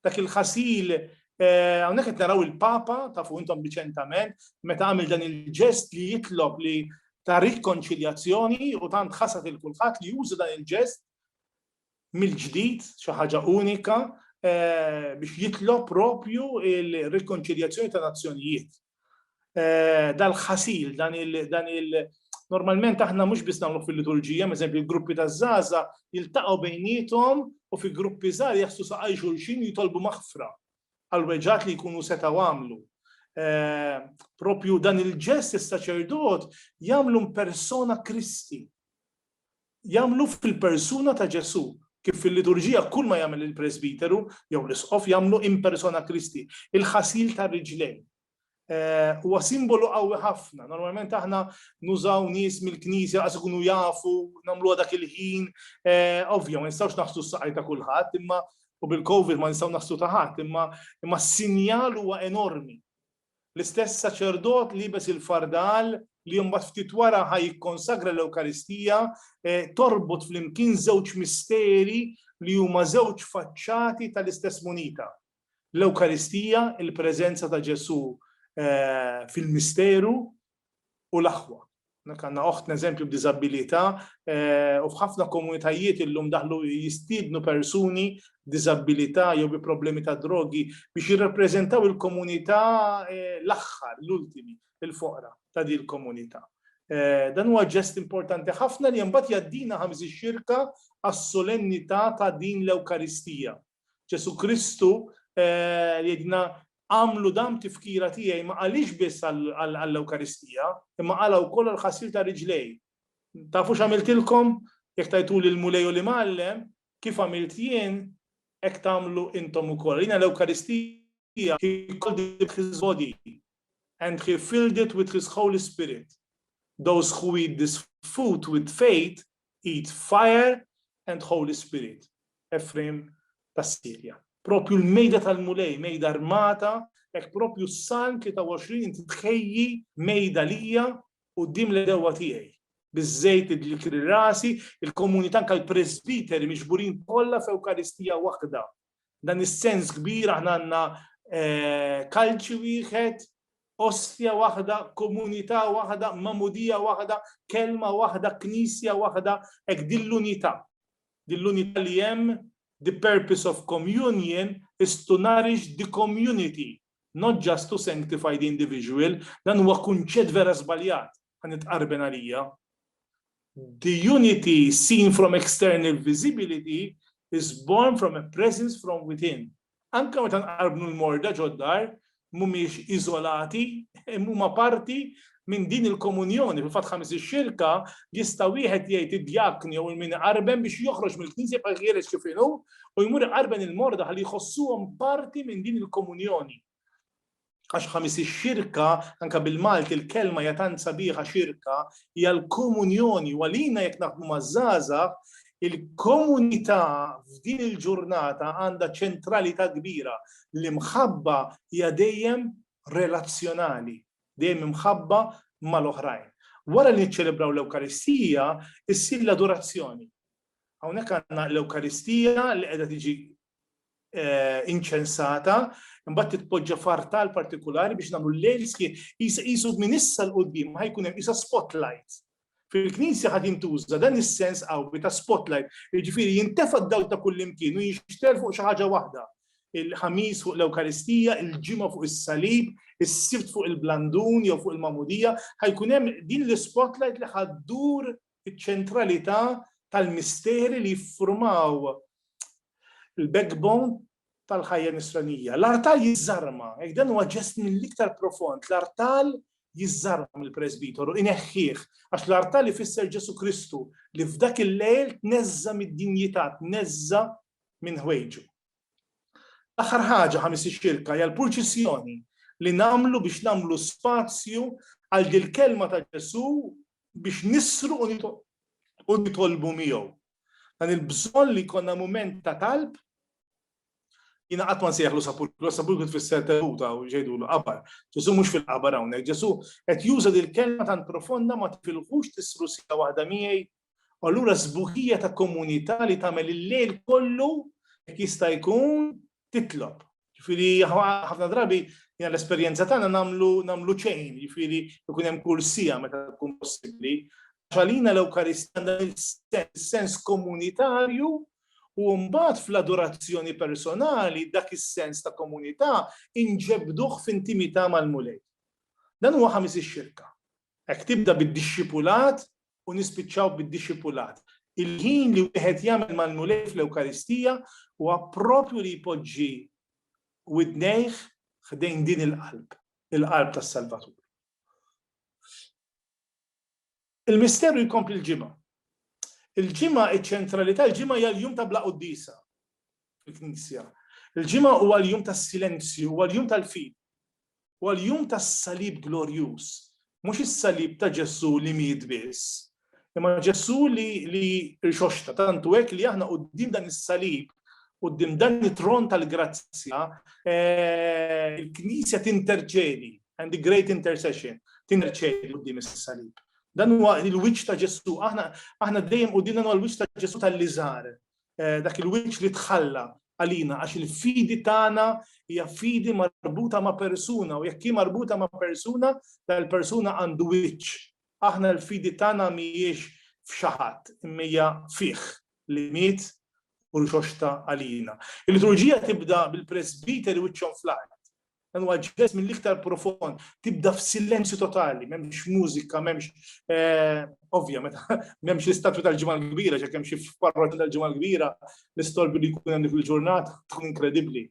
Dak il-ħasil, hawnhekk qed naraw il-Papa, tafu intom riċentament, meta għamel dan il-ġest li jitlob li ta' rikonċiljazzjoni u tant ħasad lil kulħadd li juża dan il-ġest mill-ġdid, xi ħaġa unika, biex jitlob propju l-rikonċiljazzjoni ta' nazzjonijiet. Dal-ħasil, dan il-, normalment aħna mhux biss nagħmluh fil-liturġija, m'eżempju l-gruppi taż-żgħażagħ jiltaqgħu bejniethom u fi gruppi żgħar jaħslu saqajn xulxin u jitolbu maħfra għall-weġgħat li jkunu setgħu għamlu. Propju dan il-ġest is-saċerdot jagħmlu mpersona Kristi. jagħmlu fil-persuna ta' Ġesù, kif fil-liturġija kull ma jagħmel il-presbiteru jew l-isqof jagħmlu in persona Christi, il-ħasil tar-riġlejn. Huwa simbolu qawwi ħafna. Normalment aħna nużaw nies mill-Knisja laqas ikunu jafu, nagħmluha dak il-ħin. Ovvja, ma nistgħux naħslu s-saqajn ta' kulħadd, imma u bil-COVID ma nistgħu naħslu ta' ħadd, imma s-sinjal huwa enormi. L-istess saċerdot liebes il-fardal, li mbagħad ftit wara ħa jikkonsagra l-Ewkaristija, torbot flimkien żewġ misteri li huma żewġ faċċati tal-istess munita. L-Ewkaristija, il-preżenza ta' Ġesù fil-misteru, u l-aħwa. Hawnhekk għandna oħtna eżempju b'diżabbilità u f'ħafna komunitajiet illum daħlu jistiednu persuni b'diżabbilità jew bi problemi ta' drogi biex jirrappreżentaw il-komunità l-aħħar, l-ultimi, il-foqra ta' din il-komunità. Dan huwa ġest importanti ħafna li mbagħad jgħaddina ħa miżix-xirka għas-solennità ta' din l-Ewkaristija. Ġesù Kristu jgħidilna agħmlu dan tifkira tiegħi ma qaliex biss għall-Ewkaristija, imma qalha wkoll għall-ħasil ta' riġlejh. Tafu x'għamiltilkom? Jekk tajtuli l-Mulej u l-Imgħallem, kif għamilt jien, hekk tagħmlu intom ukoll. Rina l-Ewkaristija he called it his body and he filled it with his Holy Spirit. Those who eat this food with faith Eat fire and Holy Spirit, Efrejm tas-Sirja. Proprju l-mejda tal-Mulej, mejda armata, hekk proprju s-Salm 23 inti tħejji mejda lija quddiem l-għedewwa tiegħi. Biż-żejt li dlikri rasi, il-komunità anke l-presbiteri miġburin kollha f'Ewkaristija waħda Dan is-sens kbir aħna għandna kalċi wieħed, ostja waħda, komunità waħda, mamudija waħda, kelma waħda, knisja waħda, hekk din l-unità. Din l-unità li hemm the purpose of communion is to nourish the community Not just to sanctify the individual, dan huwa kunċett vera żbaljat, ħa nitqarben għalija. The unity seen from external visibility is born from a presence from within. Anka meta nqarbnu l-morda ġoddar, mhumiex iżolati, huma parti Minn din il-komunjoni, fil-fatt ħames ix-xirka, jista' wieħed jgħid id-djakni jew il-min iqarben biex joħroġ mill-Knisja jibqa' ħieles kif inhu u jmur iqarben il-morda ħalli jħossuhom parti minn din il-komunjoni. Għax ħames ix-xirka, anke bil-Malti l-kelma hija tant sabiħa xirka, hija l-komunjoni u għalina jekk naħdmu maż-żgħażagħ il-komunità f'din il-ġurnata għandha ċentralità kbira. L-imħabba hija dejjem relazzjonali. dejjem imħabba mal-oħrajn. Wara li niċċelebraw l-Ewkaristija, issir l-adorazzjoni. Hawnhekk għandna l-Ewkaristija li qiegħda tiġi eh, inċensata, imbagħad titpoġġa fartal partikolari biex nagħmlu l-lejl qisu minn issa l qudiem ma ħajkun hemm isa spotlight Fil-Knisja ħa jintuża dan is-sens qawwi ta' spotlight, jiġifieri jintefa' d-dawl ta' kullimkien u jinxtgħel fuq xi ħaġa waħda, il-Ħamis fuq l-Ewkaristija, il-Ġimgħa fuq is-Salib, is-Sibt fuq il-Blandun jew fuq il-Magħmudija, ħa jkun hemm din l-ispotlight li ħa ddur iċ-ċentralità tal-misteri li jiffurmaw il-backbone tal-ħajja nisranija. L-artal jiżżarma, jekk dan huwa ġest mill-iktar profond, l-artal jiżżarma mill-presbitoru, ineħħih, għax l-artal ifisser Ġesu Kristu li f'dak il-lejl tneżża mid-dinjità, tneżża minn ħwejġu. L-aħħar ħaġa ħamis ix-xirka hija l-purċissjoni li nagħmlu biex nagħmlu spazju għal dil-kelma ta' Ġesu biex nisru u nitolbu miegħu. Dan il-bżonn li jkollna mument ta' talb, jina qatt ma nsejħlu sapulkru, sapulkru tfisser teluta u ġejdu l-qabar. Ġesu mhux fil-qabar hawnhekk, Ġesu qed juża dil kelma tant profonda ma tifilħux tisru sija waħda miegħi. U allura sbuħija ta' komunità li tagħmel il-lejl kollu jekk jista' jkun titlob. Ġifieri ħafna drabi jien l-esperjenza tagħna nagħmlu nagħmlu ċejn, ġifieri jkun hemm kull sija meta tkun possibbli. Għalina l-Ewkaristja għandha sens komunitarju u mbagħad fl-adorazzjoni personali dak is-sens ta' komunità inġebduh f'intimità mal-Mulej. Dan huwa ħamis ix-xirka. Hekk tibda bid-dixxipulat u nispiċċaw bid-dixxipulat. Il-ħin li wieħed jagħmel mal-Mulej fl-Ewkaristija huwa proprju li jpoġġi widnejh ħdejn din il-qalb, il-qalb tas-Salvatur. Il-misteru jkompli l-Ġimgħa. Il-Ġimgħa, iċ-ċentralità, il-Ġimgħa hija l-jum ta' bla quddiesa. fil-Knisja. Il-ġimgħa huwa l-jum tas-silenzju, huwa l-jum tal-fid, huwa l-jum tas-salib glorjuż. Mhux is-salib ta' Ġesu li miet biss, imma Ġesu li li rixoxta tantu hekk li aħna quddiem dan is-salib Uddim dan it-tron tal-grazzja, eh, il-Knisja tinterċedi, and the great intercession, tinterċedi uddim is-salib. Dan huwa il-wiċċ ta' Ġesu, aħna aħna dejjem qudiemna huwa l-wiċċ ta' Ġesu tal-liżar, dak il-wiċċ li tħalla għalina għax il-fidi tagħna hija fidi marbuta ma' persuna u jekk hi marbuta ma' persuna, dal-persuna għandu wiċċ. Aħna l-fidi tagħna mhijiex f'xi ħadd, imma hija fih li miet u rxoxta għalina. Il-liturġija tibda bil-presbiteri wiċċhom fl-art. Dan huwa ġest mill-iktar profond, tibda f'silenzju totali, m'hemmx mużika, m'hemmx eh, ovvja meta m'hemmx l-istatwi tal-ġimgħa l-kbira, ġek hemm xi parroti tal-ġimgħa l-kbira, l-istolbi li jkun hemm il-ġurnata tkun inkredibbli.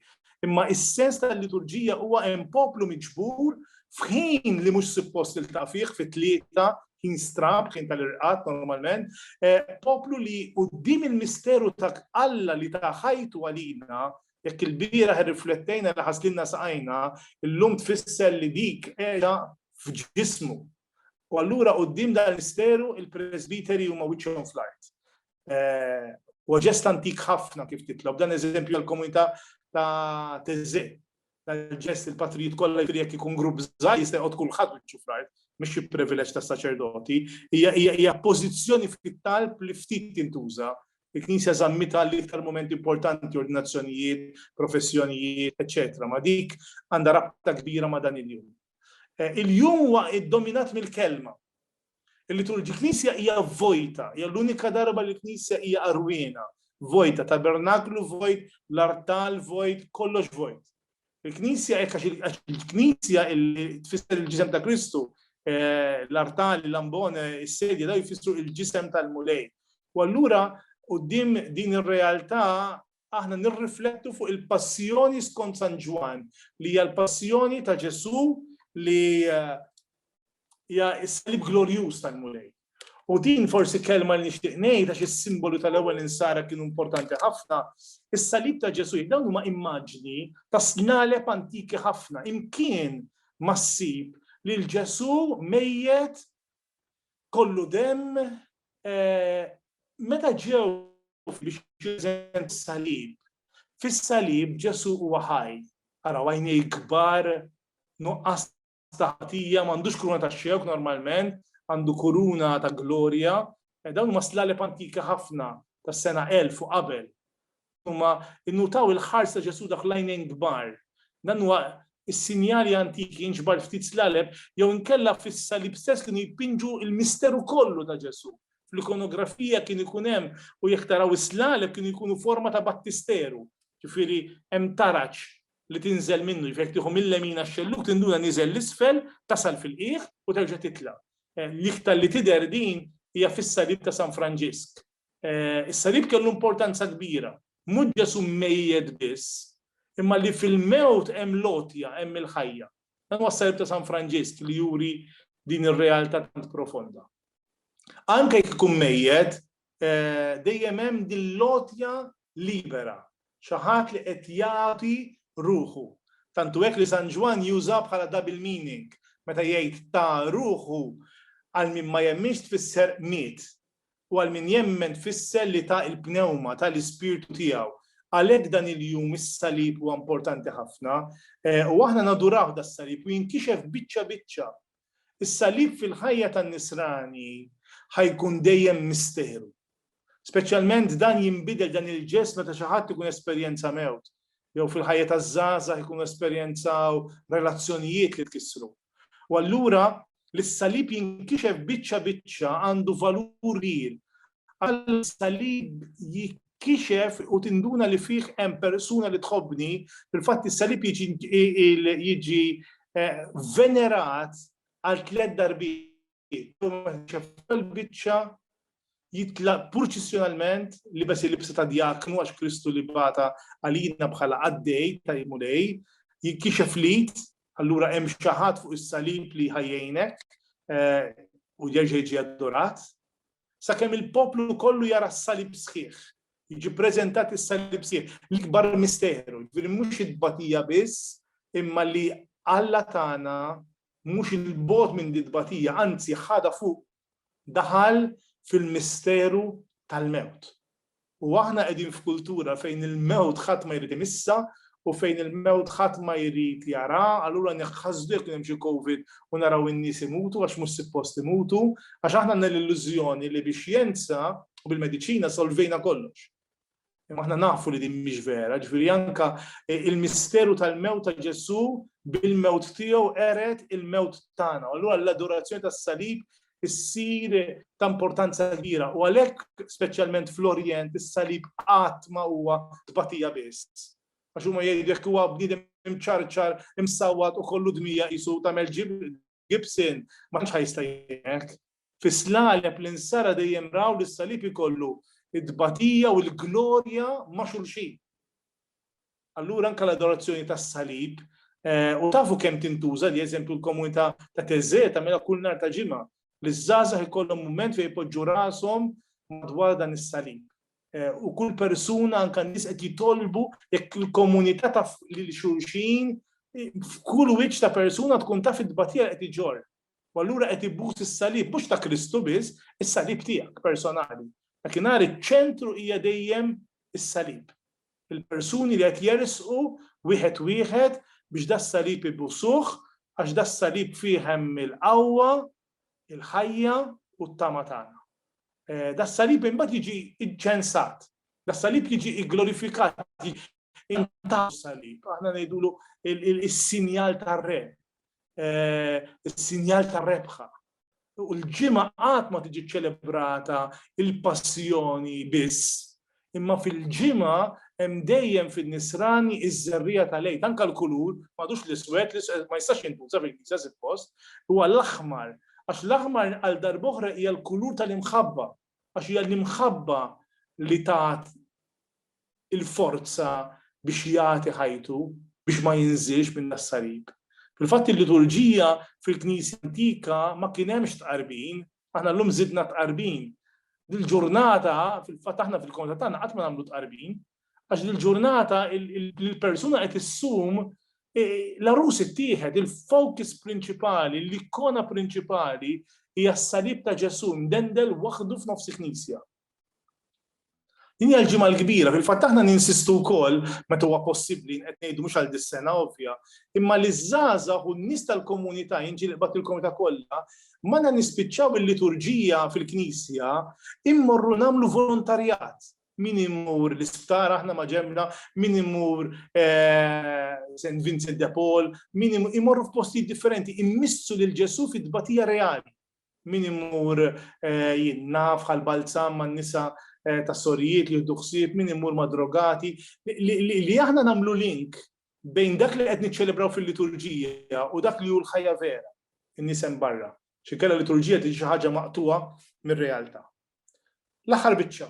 Imma is-sens tal-liturġija huwa hemm poplu miġbur f'ħin li mhux suppost il fih fit-tlieta ħin strab, ħin tal-irqat normalment, eh, poplu li qudiem il-misteru ta' Alla li ta' ħajtu għalina Jekk ilbieraħ irriflettejna li ħaslilna saqajna, illum tfisser li dik qiegħda f'ġismu. U allura quddiem dan il-misteru il-presbiteri huma wiċċhom fl-art. Huwa ġest antik ħafna kif titlob, dan eżempju għall-komunità ta' Teżè. Dal-ġest il-patrijiet kollha jfiri jekk ikun grupp żgħir jista' jqgħod kulħadd wiċċu fl-art, mhux xi privileġġ tas-saċerdoti, hija pożizzjoni fit-talb li ftit tintuża Il-Knisja żammitha l-iktar mument importanti, ordinazzjonijiet, professjonijiet, eċċetera Ma' dik għandha rabta kbira ma' dan il-jum. Il-jum huwa ddominat mill-Kelma. Il-liturġi l-Knisja hija vojta, hija l-unika darba li l-Knisja hija qarwiena, vojta, tabernaklu vojt, l-artal vojt, kollox vojt. Il-Knisja hekk għax il-Knisja li tfisser il-ġisem ta' Kristu, eh, l-artali, l-ambone, is-sedja daw jfissru il-ġisem tal-Mulej. U allura qudiem din ir-realtà aħna nirriflettu fuq il-passjoni skont San Ġwan, li hija l-passjoni ta' Ġesu li eh, hija s-salib glorjuż tal-Mulej. U din forsi kelma li nixtieq ngħid għax is-simbolu tal-ewwel insara kienu importanti ħafna, is-salib ta' Ġesu dawn huma immaġni ta' snaleb antiki ħafna, imkien ma ssib lil Ġesu mejjet kollu demm eh, meta ġew biex jużen salib. Fis-salib Ġesu huwa ħaj, araw għajnej kbar nuqqas ta' ħatija, m'għandux kuruna ta' xewk normalment, għandu kuruna ta' glorja. Eh, dawn huma slaleb antika ħafna tas-sena 1000 u qabel. Huma innutaw il-ħars ta' Ġesu dak lajnejn kbar. Dan huwa is-sinjali antiki jinġbar ftit slaleb jew inkella fis-salib stess kienu jpinġu il-misteru kollu ta' Ġesu. Fl-ikonografija kien ikun hemm u jekk taraw is-slaleb kienu jkunu forma ta' battisteru. Ġifieri hemm taraġ li tinżel minnu, jiġifieri jekk tieħu mil-lemin għax-xellug tinduna niżel 'l isfel, tasal fil-qiegħ u terġa' titla'. L-iktar li tidher din hija fis-Salib ta' San Franġisk. Is-Salib kellu importanza kbira. Mhux Ġesù mmejjet biss, imma li fil-mewt hemm l-għotja, hemm il-ħajja. Dan huwa s-Salib ta' San Franġisk li juri din ir-realtà tant profonda. Anke jekk ikun mejjet, dejjem hemm din l-għotja libera, xi ħadd li qed jagħti ruħu. Tant hu hekk li San Ġwann juża bħala double meaning meta jgħid ta ruħu għal min ma jemminx tfisser miet u għal min jemmen tfisser li ta l-pnewma, ta l-ispirtu tiegħu. Għalhekk dan il-jum is-salib huwa importanti ħafna u aħna naduraw das-salib u jinkixef biċċa biċċa Is-Salib fil-ħajja tan-Nisrani ħa jkun dejjem misteru. Speċjalment dan jinbidel dan il-ġest meta xi ħadd ikun esperjenza mewt, jew fil-ħajja taż-żgħażagħ ikunu esperjenzaw relazzjonijiet li tkissru. U allura li s-Salib jinkixef biċċa biċċa għandu valur kbir Alla s-salib jikkixef u tinduna li fih hemm persuna li tħobbni, fil-fatt is-salib jiġi eh, venerat għal tliet darbiet. Biċċa jitla purċissjonalment li bes il-libsa ta' djaknu għax Kristu li bata għalina bħala għaddej ta' jimulej, jikkixef lit, allura hemm xaħat fuq is-salib li ħajjejnek eh, u jerġa' jiġi adorat, sakemm il-poplu kollu jara s-salib sħiħ. Jiġi preżentat is-salib sħiħ, l-ikbar misteru, ġifieri mhux it-tbatija biss, imma li Alla tagħna mhux il-bogħod minn di tbatija, anzi ħadha fuq daħal fil-misteru tal-mewt. U aħna qegħdin f'kultura fejn il-mewt ħadd ma jrid imissha u fejn il-mewt ħadd ma jrid jaraha, allura neħħasdu jekk kien hemm xi Covid u naraw in-nies imutu għax mhux sippost imutu, għax aħna għandna l-illużjoni li bix-xjenza u bil-mediċina solvejna kollox. Imma aħna nafu li din mhix vera, ġifieri anke il-misteru tal-mewt ta' Ġesù bil-mewt tiegħu qered il-mewt tagħna. Allura l-adorazzjoni tas-salib issir ta' importanza kbira u għalhekk speċjalment fl-Orjent is-salib qatt ma huwa tbatija biss. Għax huma jgħidu jekk huwa bniedem imċarċar, imsawwat u kollu dmija qisu tagħmel Gibson ma tantx ħajsta jgħek. Fis-slaleb li nsara dejjem raw li s-salib ikollu id-batija u l-glorja ma' xulxin. Allura anke l-adorazzjoni tas-salib u tafu kemm tintuża li eżempju l-komunità ta' Teżżè tagħmilha kull nhar ta' ġimgħa li ż-żgħażagħ ikollhom mument fejn jpoġġu rashom madwar dan is-salib. U kull persuna anke n-nies qed jitolbu jekk il-komunità taf lil xulxin f'kull wiċċ ta' persuna tkun taf it-tbatija li qed iġorr. U allura qed ibus is-salib, mhux ta' Kristu biss, is-salib tiegħek personali. Dakinhar iċ-ċentru hija dejjem is-salib. Il-persuni li qed jersqu wieħed wieħed biex das-salib ibusuh għax das-salib fih hemm il-qawwa, il-ħajja u t-tama tagħna. Eh, das-salib imbagħad jiġi ċensat, das-salib jiġi glorifikat, intaw salib, aħna ngħidulu il-sinjal tar-re, eh, is-sinjal ta' rebħa. U l-ġimgħa qatt ma tiġi ċelebrata il-passjoni biss, imma fil-ġimgħa hemm dejjem fin-nisrani iż-żerrija tal-lejt, anke l-kulur, m'għadux l-iswed, ma jistax jintuża fil-kisa suppost, huwa l-aħmar, għax l-aħmar għal darboħra hija l-kulur tal-imħabba, għax hija l-imħabba li tat il-forza biex jagħti ħajtu biex ma jinżilx minn das-salib. Fil-fatt il-liturġija fil-Knisja antika ma kien hemmx tqarbin, aħna llum żidna tqarbin. Dil-ġurnata fil-fatt aħna fil-konta tagħna qatt ma nagħmlu tqarbin, Għax dil-ġurnata l-persuna qed issum l-arus ittieħed, il-focus prinċipali, l-ikona prinċipali hija s-salib ta' Ġesù mdendel waħdu f'nofs il-Knisja. Din hija l-ġimgħa l-kbira, fil-fatt aħna ninsistu wkoll meta huwa possibbli qed ngħidu mhux għal dis-sena ovvja, imma li żgħażagħ u n-nies tal-komunità jinġilqbad il-komunità kollha, ma nispiċċaw il-liturġija fil-Knisja immorru nagħmlu volontarjat. Min imur l-isptar, aħna ma ġemna, min imur eh, St. Vincent de Paul, min imur f'postijiet differenti, immissu lil Ġesu fit-tbatija reali. Min imur eh, jinna bħal balzam man nisa eh, ta' sorijiet li jiddu ħsieb, min imur ma' drogati, li aħna namlu link bejn dak li qed niċċelebraw fil-liturġija u dak li hu l-ħajja vera, in-nisem barra. Xinkella liturġija tiġi xi ħaġa maqtuha mir-realtà. L-aħħar biċċa.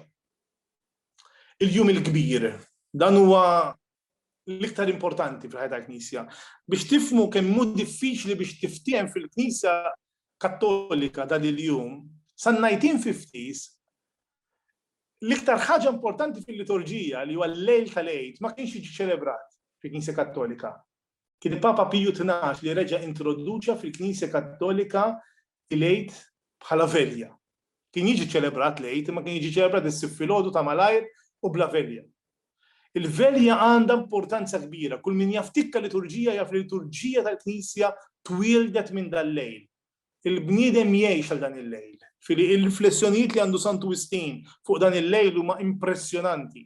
Il-jum il-kbir. Dan huwa l-iktar importanti fil-ħajja tal-Knisja. Biex tifmu kemm hu diffiċli biex tiftiehem fil-Knisja Kattolika dan il-jum, san najtin fiftis, l-iktar ħaġa importanti fil-liturġija li huwa l-lejl tal-għid ma kienx jiġi ċelebrat fil-Knisja Kattolika. Kien Papa Piju 12 li reġa' introduċa fil-Knisja Kattolika il-Għid bħala velja. Kien jiġi ċelebrat l-Għid imma kien jiġi ċelebrat issib filgħodu ta' malajr u bla velja. Il-velja għandha importanza kbira. Kull min jaftikka liturġija jaf li liturġija tal-Knisja twieldet minn dal-lejl. Il-bniedem jgħix għal dan il-lejl. Fili il-riflessjonijiet li għandu Santu Wistin fuq dan il-lejl huma impressjonanti.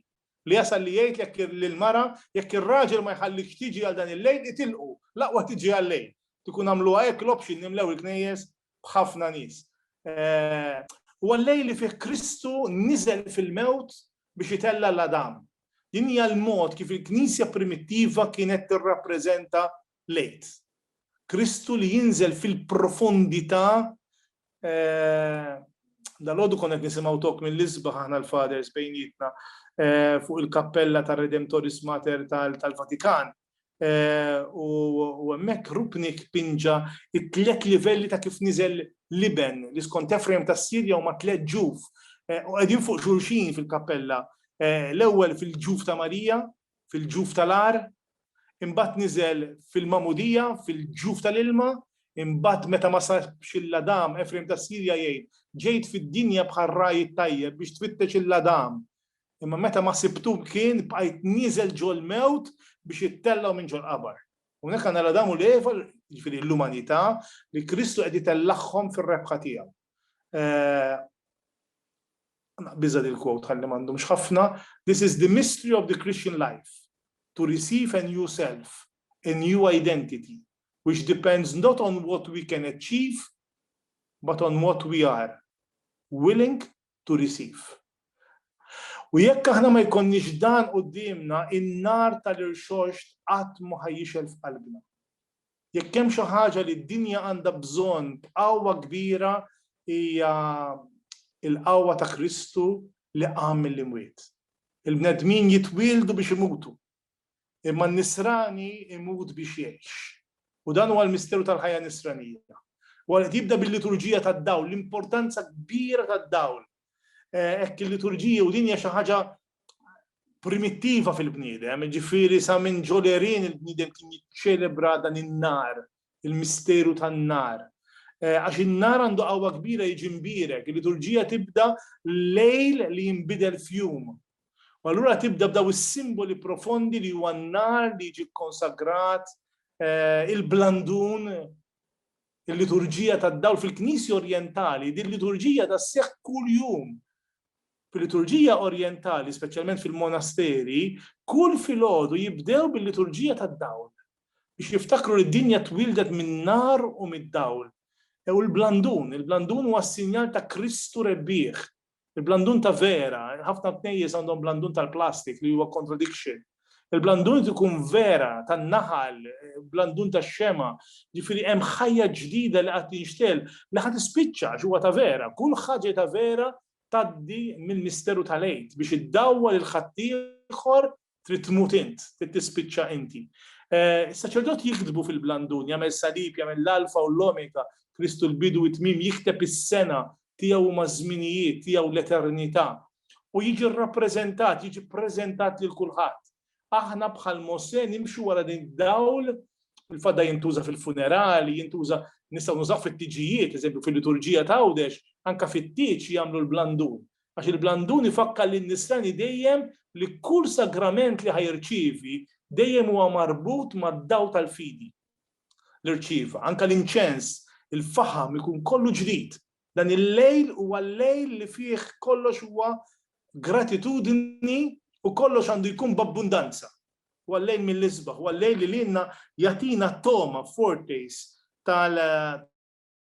Li jasal li jgħid jekk lill-mara, jekk ir-raġel ma jħallikx tiġi għal dan il-lejl, itilqu, l-aqwa tiġi għal-lejl. Kieku jkun għamluha hekk l-option nimlew il-knejjes b'ħafna nies. Huwa l-lejl li fih Kristu niżel fil-mewt biex itella' 'l Adam. Din hija l-mod kif il-Knisja primittiva kienet tirrappreżenta lejt. Kristu li jinżel fil-profondità Dalgħodu konna qed nisimgħu tok mill-isbaħ aħna l-Fathers bejnietna fuq il-kappella tar-Redemptoris Mater tal-Vatikan. U hemmhekk Rupnik pinġa t-tliet livelli ta' kif niżel l-Iben li skont Ephraim tas-Sirja huma tliet ġuf u qegħdin fuq xulxin fil-kappella. L-ewwel fil-ġuf ta' Marija, fil-ġuf tal-għar, imbagħad niżel fil-magħmudija, fil-ġuf tal-ilma, imbagħad meta ma sabx il-ladam, Efrejm tas-Sirja jgħid, Ġejt fid-dinja bħal ragħaj it-tajjeb biex tfittex il-ladam, imma meta ma sibtu kien bqajt nieżel ġol-mewt biex ittellgħu minn ġol-qabar. Hawnhekk għandna l-Adam u l-Eva, jiġifieri l-umanità, li Kristu qed itellagħhom fir-rebħa tiegħu. eh, biża dil quote ħalli m'għandhomx ħafna, this is the mystery of the Christian life, to receive a new self, a new identity, which depends not on what we can achieve, but on what we are willing to receive. U jekk aħna ma jkonniex dan qudiemna in-nar tal-irxoxt qatt ma ħajjixel f'qalbna. Jekk hemm xi ħaġa li d-dinja għandha bżonn b'qawwa kbira hija l-qawwa ta' Kristu li qam mill-imwiet. Il-bnedmin jitwieldu biex imutu, imma n-nisrani jmut biex jgħix. U dan huwa l-misteru tal-ħajja nisranija. Huwa qed jibda bil-liturġija tad-dawl, l-importanza kbira tad-dawl. Hekk il-liturġija u din hija xi ħaġa primittiva fil-bniedem, ġifieri sa minn ġolerin il-bniedem kien jiċċelebra dan in-nar, il-misteru tan-nar. Eh, għax in-nar għandu qawwa kbira jiġi mbirek, il-liturġija tibda lejl li jinbidel fjum. U allura tibda b'daw is-simboli profondi li huwa n-nar li jiġi konsagrat, eh, il-blandun, Il-liturġija tad-dawl fil-Knisja Orjentali, din liturġija da sseħħ kuljum. Fil-liturġija Orjentali, speċjalment fil-monasteri, kull filgħodu jibdew bil-liturġija tad-dawl biex jiftakru li d-dinja twildet min-nar u mid-dawl. U l-blandun, il-blandun huwa s-sinjal ta' Kristu rebbieħ, Il-blandun ta' vera, ħafna knejjes għandhom blandun tal-plastik li huwa contradiction. Il-blandun ikun vera tan-naħal, blandun tax-xema, ġifieri hemm ħajja ġdida li qed tinxtegħel li ħa tispiċċa għax huwa ta' vera. Kull ħaġa ta' vera tgħaddi mill-misteru tal-Għid biex iddawwal il-ħaddieħor trid tmut int, trid tispiċċa inti. Eh, is-saċerdot jiktbu fil-blandun, jagħmel salib, jagħmel l-alfa u l-omega, Kristu l-bidu it tmim jikteb is-sena tiegħu huma żminijiet tiegħu l-eternità u jiġi rrappreżentat, jiġi ppreżentat lil kulħadd. Aħna bħal Mose nimxu wara din dawl il-fadda jintuża fil-funerali, jintuża nistgħu nużaw fit-tiġijiet, eżempju fil-liturġija ta' għawdex, anka fit-tiġ jagħmlu l-blandun. għax il-blandun ifakkar lin-nisrani dejjem li kull sagrament li ħa jirċievi dejjem huwa marbut mad-dawl tal-fidi li rċieva. Anke l-inċens, il-faħam ikun kollu ġdid. Dan il-lejl huwa l-lejl li fih kollox huwa gratitudni u kollox għandu jkun b'abbundanza. Huwa l-lejl mill-isbaħ, huwa l-lejl li lilna jagħtina t-togħma, foretaste,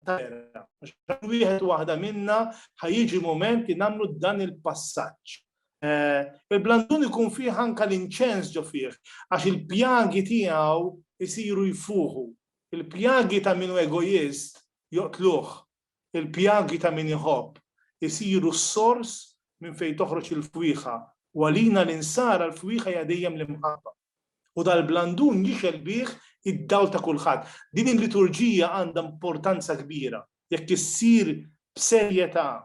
terra. Għax wieħed waħda minna ħajġi moment li nagħmlu dan il-passaġġ. Eh, Il-blandun ikun fih anka l-inċens ġo fih, għax il-pjagi tiegħu jisiru jfuħu. Il-pjagi ta' minu egoist joqtluh, il-pjagi ta' min iħobb jisiru s-sors minn fejn toħroġ il-fwiħa. Walina l-insara l-fwiħa jadejjem l-imħabba. u dal-blandun jixgħel bih id-dawl ta' kulħadd. Din il-liturġija għandha importanza kbira jekk issir b'serjetà,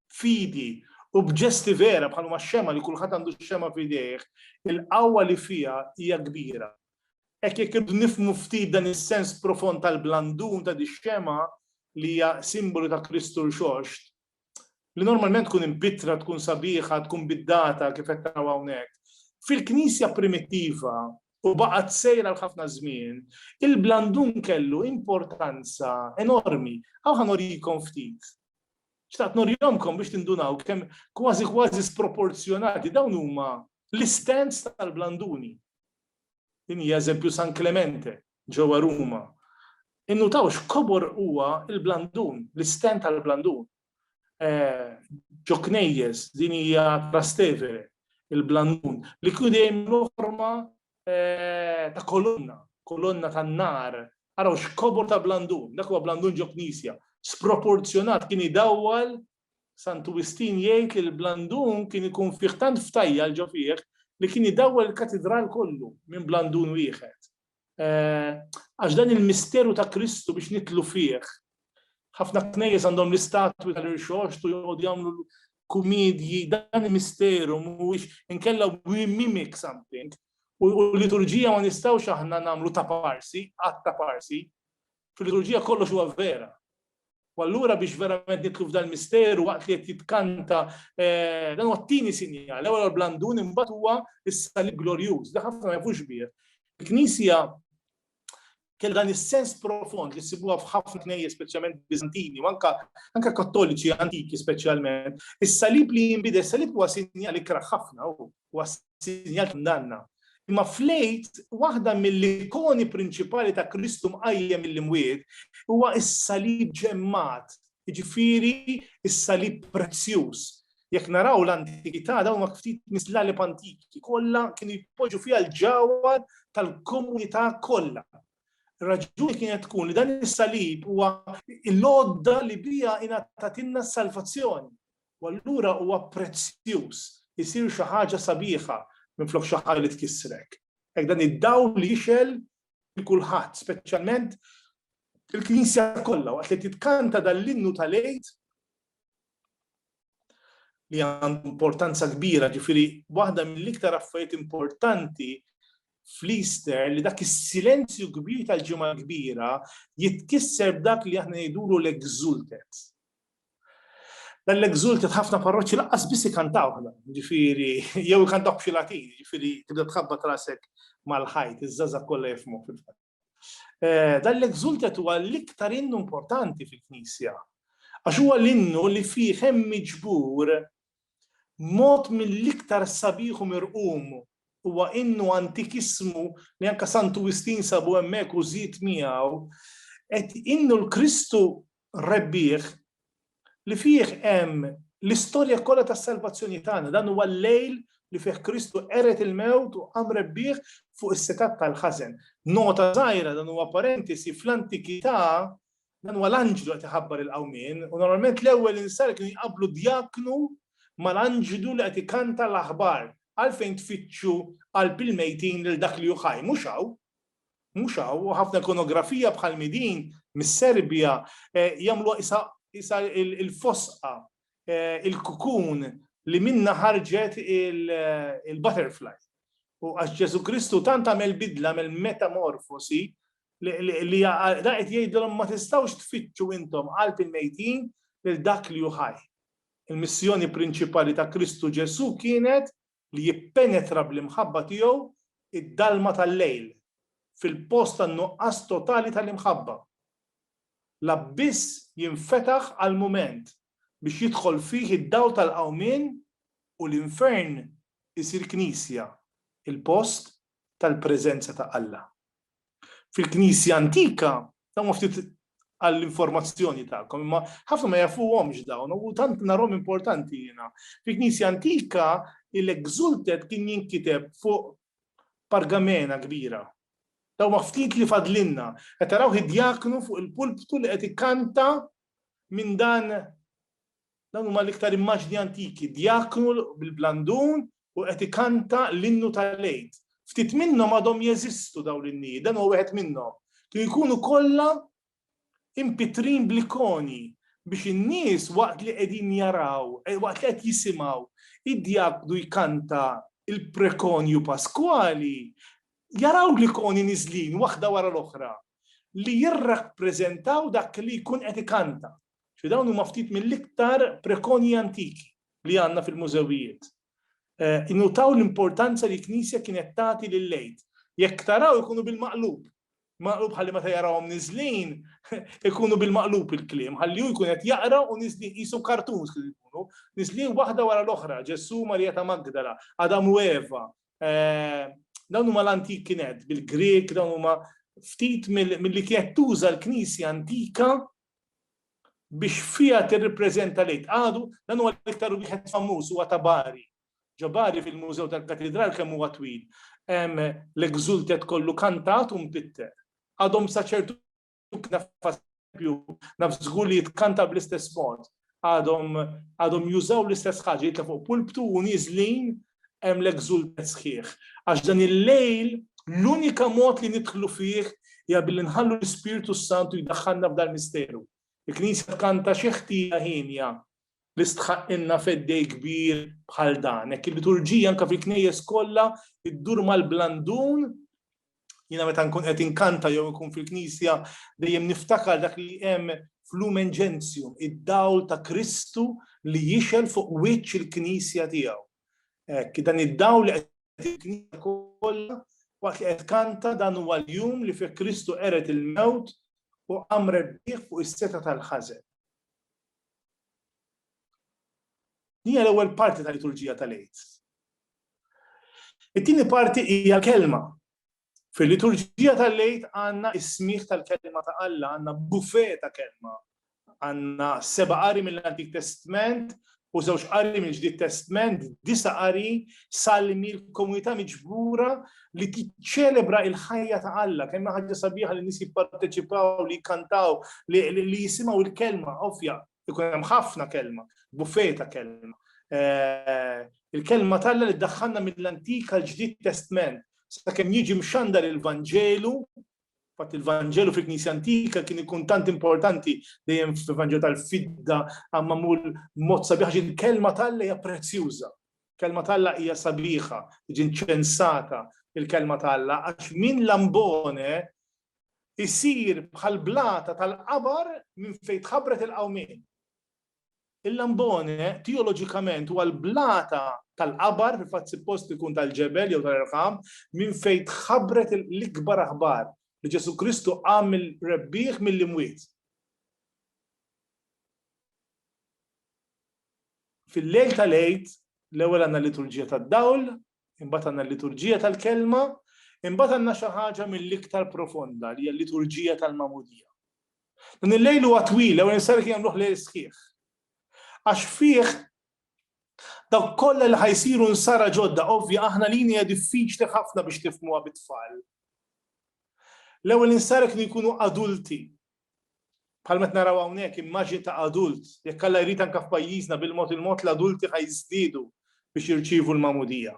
b'fidi u b'ġesti vera bħal huma x-xemgħa li kulħadd għandu x-xemgħa f'idejh, il-qawwa li fiha hija kbira. Hekk jekk irridu nifhmu ftit dan is-sens profond tal-blandun ta' dix-xemgħa li hija simbolu ta' Kristu Rxoxt, li normalment tkun imbittra, tkun sabiħa, tkun biddata kif qed naraw hawnhekk. Fil-Knisja primittiva u baqgħet sejra għal ħafna żmien, il-blandun kellu importanza enormi. Aw ħanorikom ftit. Xtaqt norjomkom biex tindunaw kemm kważi kważi sproporzjonati dawn huma l-istands tal-blanduni. Din hija eżempju San Clemente, ġewwa Ruma, innutaw x'kobor huwa l-blandun, l-istenn tal-blandun. Ġo knejjes, din hija Trastevere, il-blandun, li kien dejjem jieħu forma ta' kolonna, kolonna tan-nar. Araw x'kobor ta' blandun, dak huwa blandun ġo knisja, sproporzjonat, kien idawwal, Santu Wistin jgħid li l-blandun kien ikun fih tant ftajjal ġo fih li kien idawwal il-katidral kollu minn blandun wieħed. Għax dan il-misteru ta' Kristu biex nitlu fih. Ħafna knejjes għandhom l-istatwi tal-irxoxt u joqogħdu jagħmlu kumedji, dan il-misteru mhuwiex inkella we mimic something. U l-liturġija ma nistgħux aħna nagħmlu ta' parsi, qatt ta' parsi. Fil-liturġija kollox huwa vera. U allura biex verament nitlu f'dan misteru waqt li qed jitkanta eh, dan huwa t-tieni sinjal, l-ewwel blandun imbagħad huwa is-salib glorjuż, da ħafna ma jafux bih. Il-Knisja kell dan is-sens profond li sibuha f'ħafna knejje speċjalment Bizantini, u anka anka kattoliċi antiki speċjalment. Is-salib li jinbidel, is-salib huwa sinjal ikraħ ħafna u Huwa sinjal ta' kundanna. Imma fl-Għid, waħda mill-ikoni prinċipali ta' Kristu mqajjem mill-imwiet huwa s-salib ġemmat, jiġifieri s-salib prezzjuż. Jekk naraw l-antikità dawn huma ftit mis-slalib antiki kollha kienu jpoġġu fiha l-ġawhar tal-komunità kollha. Ir-raġuni kienet tkun li dan is-salib huwa l-għodda li biha ingħatatilna s-salvazzjoni. U allura huwa prezzjuż, isir xi ħaġa sabiħa minflok xi ħaġa li tkissrek. Hekk dan id-dawl jixgħel lil kulħadd, speċjalment il-Knisja kollha waqt li titkanta dan l-innu tal-Għid li għandu importanza kbira, ġifiri, waħda mill-iktar affarijiet importanti fl-Easter li dak is-silenzju kbir tal-ġimgħa kbira jitkisser b'dak li aħna ngħidulu l-exultet. Dan l-exulted ħafna parroċċi lanqas biss ikantawh dan, ġifieri jew ikantawh b'xi latin, ġifieri tibda tħabbat rasek mal-ħajt, iż-żgħażagħ kollha jifhmuh fil-fatt. Eh, dan l-exulted huwa l-iktar innu importanti fil-Knisja. Għax huwa l-innu li fih hemm miġbur mod mill-iktar sabiħ u mirqum huwa innu antikismu li anka Santu Wistin sabu hemmhekk u żid miegħu qed innu l-Kristu rebbieħ li fih hemm l-istorja kollha tas-salvazzjoni tagħna. Dan huwa l-lejl li fih Kristu qered il-mewt u qam rebbieħ fuq is-setgħat tal-ħażen. Nota żgħira dan huwa parentesi fl-antikità dan huwa l-anġlu qed iħabbar il-qawmien u normalment l-ewwel insar kienu jqabblu djaknu mal-anġlu li qed ikanta l-aħbar għalfejn tfittxu qalb il-mejtin lil dak li hu ħaj mhux hawn. Mhux hawn, u ħafna ikonografija bħalmi din mis-Serbja jagħmluha qisha qisha l-fosqa, il-kukun li minnha ħarġet il-butterfly. U għax Ġesù Kristu tant għamel bidla, għamel metamorfosi, li dan qed jgħidilhom ma tistgħux tfittxu intom qalb il-mejtin lil dak li hu ħaj. Il-missjoni prinċipali ta' Kristu Ġesù kienet li jippenetra bl-imħabba tiegħu id-dalma tal-lejl, fil-post tan-nuqqas totali tal-imħabba. L-abbiss jinfetaħ għall-mument biex jidħol fih id-dawl tal-qawmien u l-infern isir knisja, il-post tal-preżenza ta' Alla. fil-Knisja antika, dawn ma ftit għall-informazzjoni tagħkom, imma ħafna ma jafuhomx dawn, u tant narhom importanti jiena. Fil-Knisja antika, il-exultet kien jinkiteb fuq pargamena kbira. Daw ma ftit li fadlinna, qed taraw id-djaknu fuq il-pulptu li qed ikkanta minn dan Dawn huma l-iktar immaġni antiki, djaknu bil-blandun u qed ikanta l-innu tal-Għid. Ftit minnhom għadhom jeżistu dawn l-innijiet, dan huwa wieħed minnhom. Kienu jkunu kollha impitrin bl-ikoni biex in-nies waqt li qegħdin jaraw, eh, waqt li qed jisimgħu id-djaknu jkanta il-prekonju Paskwali, jaraw l-ikoni niżlin waħda wara l-oħra li jirrappreżentaw dak li jkun qed ikanta. Ġifieri dawn huma ftit mill-iktar prekonji antiki li għandna fil-mużewijiet. Innutaw l-importanza li l-Knisja kienet tagħti lill-Għid. Jekk taraw ikunu bil-maqlub. Maqlub ħalli meta jarawhom niżlin ikunu bil-maqlub il-kliem, ħalli hu jkun qed jaqra u niżlin qisu kartuns kif ikunu, niżlin waħda wara l-oħra, Ġesù, Marija ta' Magdala, Adam u Eva. Dawn huma l-antik kienet bil-Grieg, dawn huma ftit mill-li kienet tuża l-Knisja antika biex fiha tirripreżenta l-Għid. Għadu, dan huwa l-iktar wieħed famuż, huwa ta' Bari. Ġo Bari fil-Mużew tal-Katidral kemm huwa twil hemm l-Exultet kollu kantat u mpitter. Għadhom sa ċertu naf żgur li jitkanta bl-istess mod. għadhom għadhom jużaw l-istess ħaġa jitla' fuq pulptu u nieżlin hemm l-exultet sħiħ. Għax dan il-lejl l-unika mod li nidħlu fih hija billi nħallu l-Ispirtu s-Santu jdaħħalna f'dal misteru. Il-Knisja tkanta xi ħtija hienja li stħaqqilna feddej kbir bħal dan. Hekk il-liturġija anke fil-knejjes kollha iddur mal-blandun Jiena meta nkun qed inkanta jew nkun fil-Knisja dejjem niftakar dak li hemm f'Lumen Gentium, id-dawl ta' Kristu li jixel fuq wiċċ il-Knisja tiegħu. Hekk, dan id-dawl li qed il-Knisja kollha waqt li qed kanta dan huwa l-jum li fih Kristu qeret il-mewt u qam rebbieħ fuq is-seta tal-ħażen. Hija l-ewwel parti tal-liturġija tal-Għid. It-tieni parti hija l-Kelma. Fil-Liturġija tal-Għid għandna s-smigħ tal-Kelma ta' Alla, għandna buffet ta' Kelma. Għandna seba' qari mill-Antik Testment u żewġ qari mill-Ġdid Testment, disa' qari, salmi, l-komunità miġbura li tiċċelebra l-ħajja ta' Alla. Kemm hi ħaġa sabiħa li n-nies jipparteċipaw, li jikkantaw, li jisimgħu l-Kelma għofja Ikun hemm ħafna kelma, buffej ta' kelma. Eh, il-kelma talla li ddaħħalna mill-Antik għal ġdid Testment, sakemm jiġi mxandar il-Vanġelu, fatt il-Vanġelu fil-Knisja Antika kien ikun tant importanti dejjem fil-Vanġelu tal-fidda għamma mul mod sabiħ il-kelma talla hija prezzjuża. Kelma talla hija sabiħa, ġin ċensata il-kelma talla, għax minn lambone isir bħall-blata tal-qabar minn fejn tħabbret il-qawmien. Il-Lambone teoloġikament huwa l-blata tal-qabar, fil-fatt suppost ikun tal-ġebel jew tal-irħam, minn fejn tħabbret l-ikbar aħbar li Ġesù Kristu qam il-rebbieħ mill-imwiet. Fil-lejl tal-għid, l-ewwel għandna liturġija tad-dawl, imbagħad għandna l-liturġija tal-kelma, imbagħad għandna xi ħaġa mill-iktar profonda li hija l-liturġija tal-mamudija. Dan il-lejl huwa twila u nisar kien jagħmluh lejl sħiħ. Għax fih dawk kollha li ħajsiru nsara ġodda, ovvja aħna lini hija diffiċli ħafna biex tifmuha bit-tfal. L-ewwel insara kienu jkunu adulti, Bħalma qed naraw hawnhekk, immaġni ta' adult, jekk Alla jrid anke f'pajjiżna bil-mod il-mod l-adulti ħa jiżdiedu biex jirċievu l-magħmudija.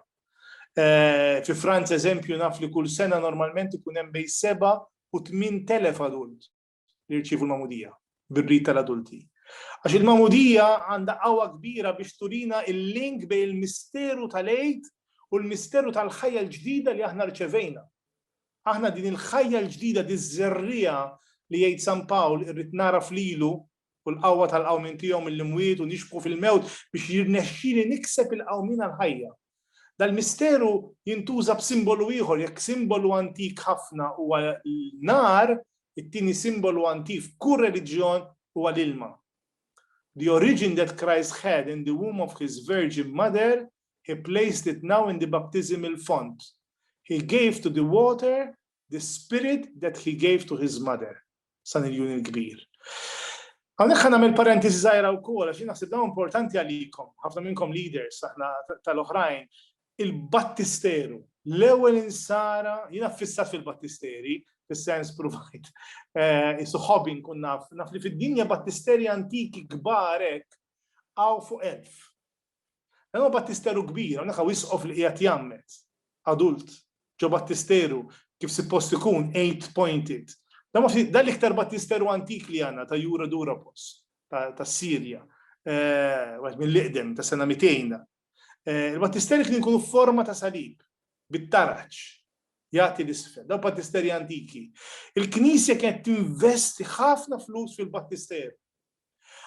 Fi Franza eżempju naf li kull sena normalment ikun hemm bejn seba' u tmien telef adult li jirċievu l-magħmudija bir-rit tal-adulti. Għax il-magħmudija għandha qawwa kbira biex turina l-link bejn il-misteru tal-Għid u l-misteru tal-ħajja l-ġdida li aħna rċevejna. Aħna din il-ħajja l-ġdida, diż-żerriegħa li jgħid San Pawl irrid nagħraf lilu u l-qawwa tal-qawmien tiegħu mill-imwiet u nixbħu fil-mewt biex jirnexxili nikseb il-qawmien għall-ħajja. Dal-misteru jintuża b'simbolu ieħor, jekk simbolu antik ħafna huwa n-nar, it-tieni simbolu antik f'kull reliġjon huwa l-ilma. The origin that Christ had in the womb of his virgin mother He placed it now in the baptismal font. He gave to the water the spirit that he gave to his mother. San il-Jun il-Kbir. Għalhekk ħa nagħmel parentesi żgħira wkoll għax naħseb dawn importanti għalikom, ħafna minnkom leaders aħna tal-oħrajn, il-battisteru, l-ewwel insara, jiena fissat fil-battisteri, fis-sens provajt, eh, isu ħobin kun naf, naf li fid-dinja battisteri antiki kbarek għaw fuq elf. Hemm battisteru kbir, hawnhekk hawn isqof li qiegħed jgħammed, adult, ġo battisteru kif sippost ikun eight pointed. Dan ma dan l-iktar battisteru antik li għandna ta' Jura Durapos tas-Sirja, wieħed mill-iqdem ta' sena 200. Il-battisteri kien ikunu forma ta' salib bit-taraġ jagħti l-isfel, daw battisteri antiki. Il-Knisja kienet tinvesti ħafna flus fil-battisteru.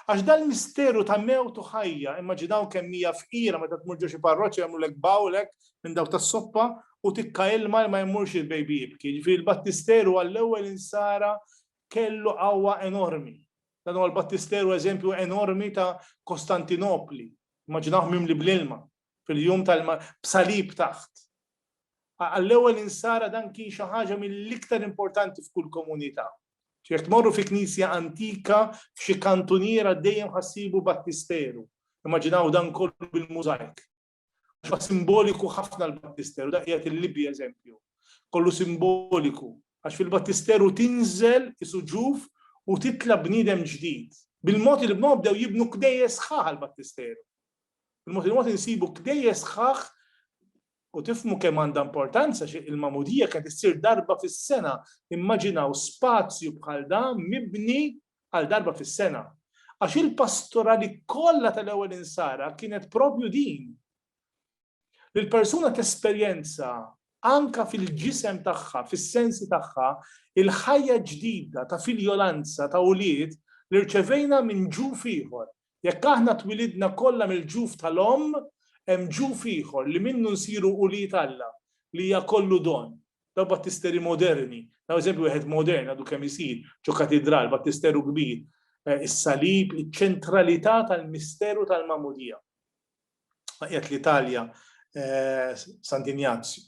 Għax dal-misteru ta' mewt u ħajja, immaġina hawn kemm hija fqira meta tmur ġo xi parroċċa jagħmlulek bowl hekk minn dawk tas-soppa u tikka ilma li ma jmurx il-baby jibki. Jiġifieri l-battisteru għall-ewwel insara kellu qawwa enormi. Dan huwa l-battisteru eżempju enormi ta' Kostantinopli. Immaġinawh mimli bl-ilma. fil-jum tal b'salib taħt. Għall-ewwel insara dan kien xi ħaġa mill-iktar importanti f'kull komunità. Jekk tmorru fi knisja antika f'xi kantuniera dejjem ħassibu battisteru. Immaġinaw dan kollu bil-mużajk. Għax simboliku ħafna l-battisteru, da qiegħed il-Libja eżempju. Kollu simboliku. Għax fil-battisteru tinżel isuġuf u titla bniedem ġdid. Bil-mod il-bnod bdew jibnu kdejjes sħaħ l-battisteru. Il-mod il-mod insibu kdejjes sħaħ u tifmu kemm għandha importanza xi il-magħmudija kienet issir darba fis-sena. Immaġinaw spazju bħal da mibni għal darba fis-sena. Għax il-pastorali kollha tal-ewwel insara kienet propju din. Li l-persuna tesperjenza anka fil-ġisem tagħha, fis-sensi tagħha, il-ħajja ġdida ta' filjolanza ta' ulied li rċevejna minn ġuf ieħor, Jekk aħna twilidna kollha mill-ġuf tal-omm, hemm ġuf ieħor li minnu nsiru ulied Alla, li hija kollu don. Dawk battisteri moderni, nagħmel eżempju wieħed modern għadu kemm isir ġo katidral, battisteru kbir, is-salib, iċ-ċentralità tal-misteru tal-magħmudija. Qiegħed l-Italja Sant'Injazju.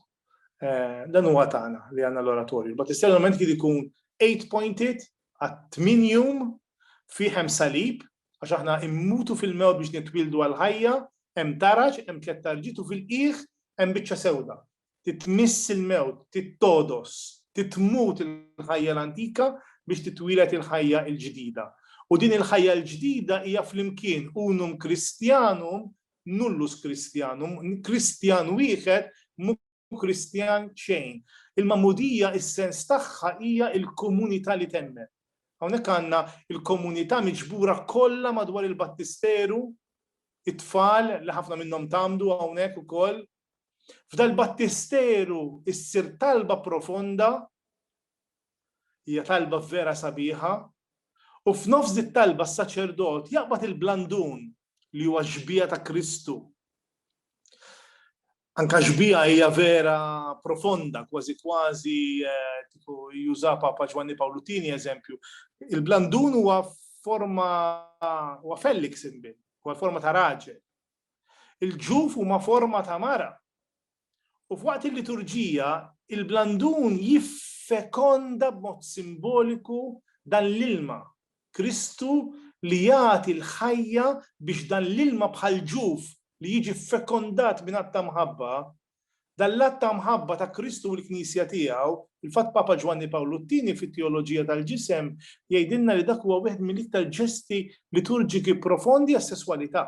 Eh, dan huwa tagħna li għandna l-oratorju. But is-settlement kien ikun 8 pointed għat 8 jum fi hemm salib għax aħna immutu fil-mew biex nitwildu għal ħajja, hemm taraġ, hemm tliet tarġitu fil-qiegħ, hemm biċċa sewda. Titmiss il-mewt, tittodos, titmut il-ħajja l-antika biex titwilet il-ħajja l-ġdida. U din il-ħajja l-ġdida hija flimkien unum kristjanum nullus Christianum, Kristjan wieħed mu Kristjan xejn. Il-magħmudija is-sens tagħha hija l-komunità li temmen. Hawnhekk għandna il-komunità miġbura kollha madwar il-battisteru, it-tfal li ħafna minnhom tamdu hawnhekk ukoll. F'dal-battisteru issir talba profonda Hija talba vera sabiħa, u f'nofs dit-talba s-saċerdot jaqbad il-blandun li huwa x-xbieha ta' Kristu. Anka xbieha hija vera profonda, kważi kważi kieku juża Papa Ġwanni Pawlu Tieni eżempju. Il-blandun huwa forma huwa fellix imbil, huwa forma ta' raġel. Il-ġuf huma forma ta' mara. U f'waqt il-liturġija, il-blandun jiffekonda b'mod simboliku dan l-ilma, Kristu li jagħti l-ħajja biex dan l-ilma bħal ġuf li jiġi ffekondat minn att ta' mħabba, dan l-att ta' mħabba ta' Kristu u l-Knisja tiegħu, fil-fatt Papa Ġwanni Pawlu t-Tieni fit-Teoloġija tal-Ġisem jgħidilna li dak huwa wieħed mill-iktar ġesti liturġiki profondi għas-sesswalità.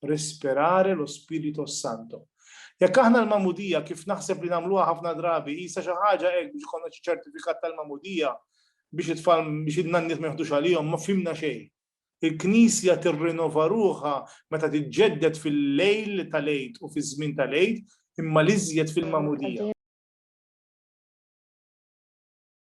respirare lo Spirito Santo. Jekk aħna l-magħmudija kif naħseb li nagħmluha ħafna drabi qisha xi ħaġa hekk biex ikollna xi ċertifikat tal-magħmudija biex it-tfal biex in-nanniet ma jħdux għalihom ma fimna xejn. Il-Knisja tirrinova ruħha meta tiġġedded fil-lejl tal-Għid u fiż-żmien tal-Għid imma l-iżjed fil-magħmudija.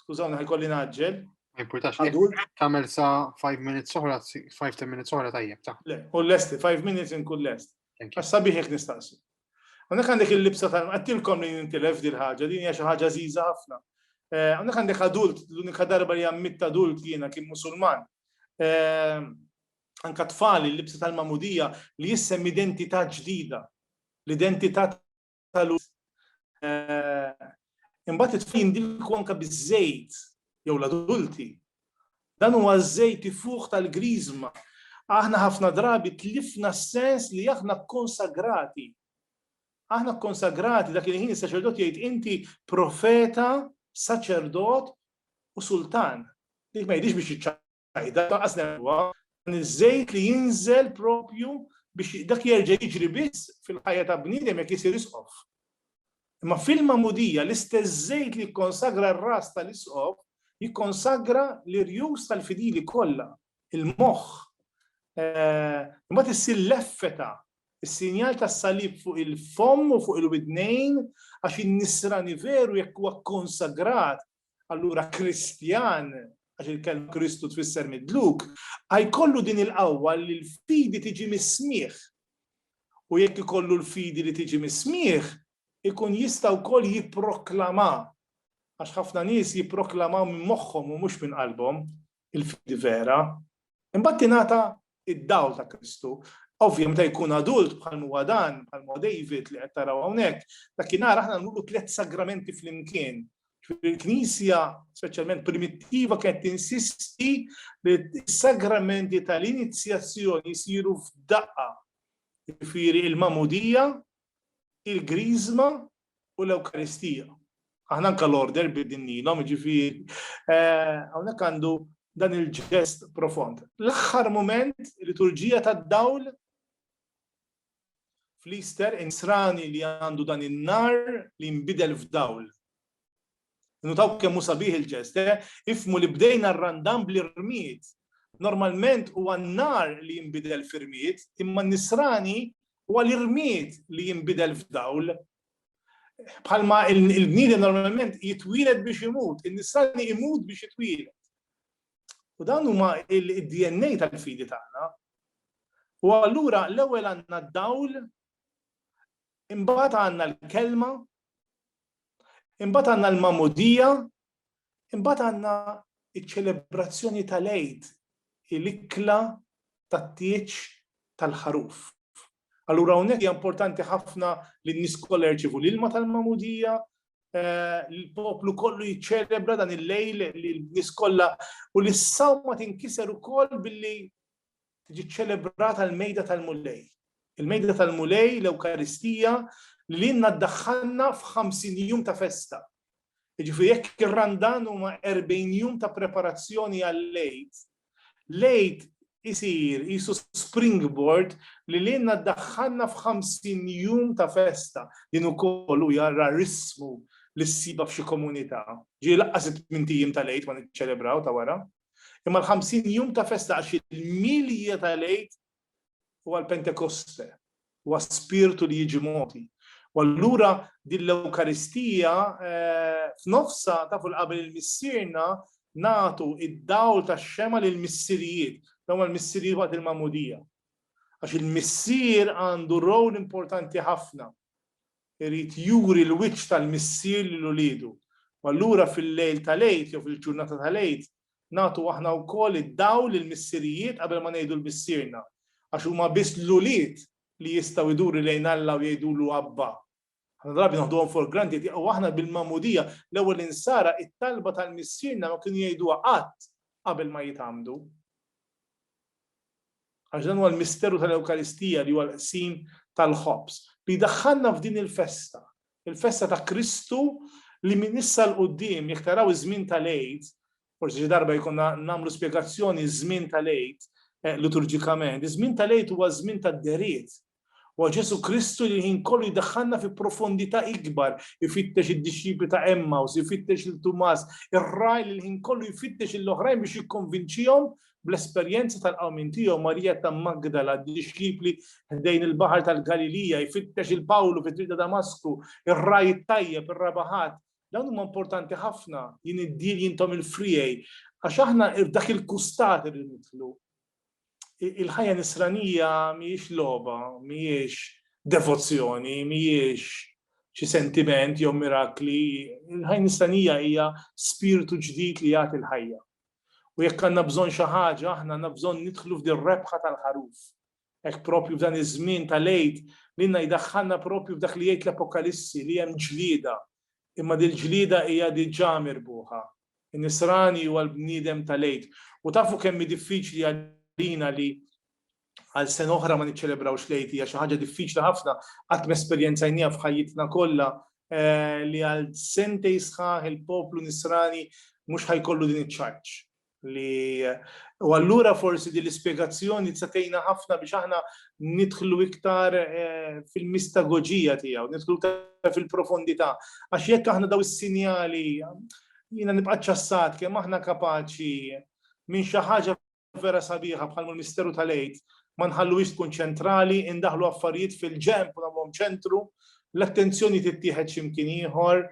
Skużawni ħajkolli naġġel. Ma jimpurtax, tagħmel sa 5 minutes oħra, 5-10 minutes oħra tajjeb ta'. Le, u l-lesti, 5 minutes inkun lest. Għax sabiħ jek nistaqsi. Għandek għandek il-libsa tal għattilkom li nintilef dil ħaġa din hija xi ħaġa żiża ħafna. Eh, għandek għandek adult, l-unika darba li għammit adult jiena kien musulman. Eh, anka tfali l-libsa tal-mamudija li jissem identità ġdida. L-identità tal-uż eh, imbagħad it-tfal jindilku anke biż-żejt jew l-adulti. Dan huwa żejt ifuħ tal-griżma. Aħna ħafna drabi tlifna s-sens li aħna konsagrati. Aħna konsagrati dak il-ħin is-saċerdot jgħid inti profeta, saċerdot u sultan. Dik ma jidix biex sajda taqas nerwa dan iż-żejt li jinżel propju biex dak jerġa' jiġri biss fil-ħajja ta' bniedem jekk isir isqof. Imma fil-magħmudija l-istess żejt li jikkonsagra r-ras tal-isqof jikkonsagra l-irjus tal-fidili kollha, il-moħħ. Imbagħad issir l-effeta, is-sinjal tas-salib fuq il-fomm u fuq il-widnejn għax in-nisrani veru jekk huwa konsagrat Allura Kristjan, għax il-kelma Kristu tfisser midluk, għajkollu din il-qawwa li l-fidi tiġi mis-smieħ. U jekk ikollu l-fidi li tiġi mis-smieħ, ikun jista' wkoll jipproklama. Għax ħafna nies jipproklamaw minn moħħhom u mhux minn qalbhom, il-fidi vera, imbagħad tingħata id-dawl ta' Kristu. Ovvja, meta jkun adult bħal huwa dan, bħal huwa David li qed taraw hawnhekk, dakinhar aħna nuru tliet sagramenti flimkien. Il-Knisja, speċjalment primittiva, kienet tinsisti li s-sagramenti tal-inizjazzjoni jsiru f'daqqa. Jiġifieri il-mamudija, il-griżma u l-Ewkaristija. Aħna anke l-order bidilnielhom, jiġifieri hawnhekk għandu dan il-ġest profond. L-aħħar mument liturġija tad-dawl fl-Easter insrani li għandu dan in-nar li nbidel f'dawl. Nutaw kemm hu sabiħ il-ġest, eh? Ifhmu li bdejna r-Randan bl-irmied. Normalment huwa n-nhar li jinbidel f'irmied, imma n-Nisrani huwa l-irmied li jinbidel f'dawl. Bħalma l-bniedem normalment jitwieled biex imut, in-Nisrani imut biex jitwieled. U dan huma il-DNA tal-fidi tagħna. U allura l-ewwel għandna d-dawl, imbagħad għandna l-kelma, Imbagħad għandna l-Magħmudija, imbagħad għandna ċ-ċelebrazzjoni tal-Għid, il-ikla tat-tieġ tal-ħaruf. Allura hawnhekk hija importanti ħafna li n-nies kollha jirċievu l-ilma tal-Magħmudija, eh, l-poplu kollu jiċċelebra dan il-lejl li l-nies kollha u l-sawma tinkiser ukoll billi tiġi ċċelebrata l-mejda tal-Mulej. Il-mejda tal-Mulej, l-Ewkaristija, li l-inna ddaħħalna f'50 jum ta' festa. Ġifieri jekk ir-Randan huma 40 jum ta' preparazzjoni għal-lejt, lejt isir isu springboard li l-inna ddaħħalna f'50 jum ta' festa. Din ukoll u jarra rismu li ssiba f'xi komunità. Ġieli laqqas it-tmintijiem tal-lejt ma niċċelebraw ta' wara. Imma l-ħamsin jum ta' festa għax il-milja tal-Għid huwa l-Pentekoste, huwa spirtu li jiġi mogħti. U allura din l-Ewkaristija eh, f'nofsa ta' fuq qabel il-missierna nagħtu id-dawl tax-xema lil missirijiet, dawn l-missirijiet waqt il-mamudija. Għax il-missier għandu rol importanti ħafna. Irid juri l-wiċċ tal-Missier lil uliedu. U allura fil-lejl tal-Għid jew fil-ġurnata tal-Għid nagħtu aħna wkoll id-dawl lill-missirijiet qabel ma ngħidu l-Missierna. Għax huma biss l-ulied li jistgħu jduru lejn Alla u jgħidulu Abba. Ħafna drabi naħduhom for granted u aħna bil-Magħmudija, l-ewwel Insara, it-talba tal-Missierna ma kienu jgħiduha qatt qabel ma jitgħammdu. Għax dan huwa l-misteru tal-Ewkaristija li huwa l-qsim tal-ħobż li jdaħħalna f'din il-festa, il-festa ta' Kristu li minn issa 'l quddiem jekk taraw iż-żmien tal-Għid, forsi xi darba jkollna nagħmlu spjegazzjoni ż-żmien tal-Għid liturġikament, iż-żmien tal-Għid huwa żmien tad-dehriet, Huwa Ġesù Kristu li l-ħin kollu jdaħħalna fi profondità ikbar, ifittex id-dixxipli ta' Emmaus, ifittex lil Tumas, ir-ragħaj li l-ħin kollu jfittex lill-oħrajn biex jikkonvinċihom bl-esperjenza tal-qawmien tiegħu, Marija ta' Magdala, d-dixxipli ħdejn il-baħar tal-Galilija, jfittex il Pawlu fit-triq ta' Damasku, ir-ragħaj it-tajjeb, ir-raba' ħadd. Dawn huma importanti ħafna, jien id-dil jintom il-friegħi, għax aħna f'dak il-kustat irridu nidħlu. il-ħajja nisranija mhijiex logħba, mhijiex devozzjoni, mhijiex xi sentiment jew mirakli, il-ħajja nisranija hija spirtu ġdid li jagħti l-ħajja. U jekk għandna bżonn xi ħaġa, aħna għandna bżonn nidħlu f'din rebħa tal-ħaruf. Hekk propju f'dan iż-żmien tal-għid li nna jdaħħalna propju f'dak li jgħid l-Apokalissi li hemm ġlieda, imma dil-ġlieda hija diġà mirbuħa. Nisrani huwa l-bniedem tal-Għid. U tafu kemm hi diffiċli għalina li għal sena oħra ma niċċelebrawx l-Għid, hija xi ħaġa diffiċli ħafna, qatt m'esperjenzajnieha f'ħajjitna kollha eh, li għal sentej sħaħ il-poplu Nisrani mhux ħajkollu din iċ-ċarċ li u allura forsi din l-ispjegazzjoni tista' tgħinna ħafna biex aħna nidħlu iktar fil-mistagoġija tiegħu, nidħlu iktar fil-profondità. Għax jekk aħna daw is-sinjali, jiena nibqa' ċassat kemm aħna kapaċi minn xi ħaġa vera sabiħa bħal misteru tal-għid, ma nħalluhiex tkun ċentrali, indaħlu affarijiet fil-ġenb u nagħmluhom ċentru, l-attenzjoni tittieħed x'imkien ieħor,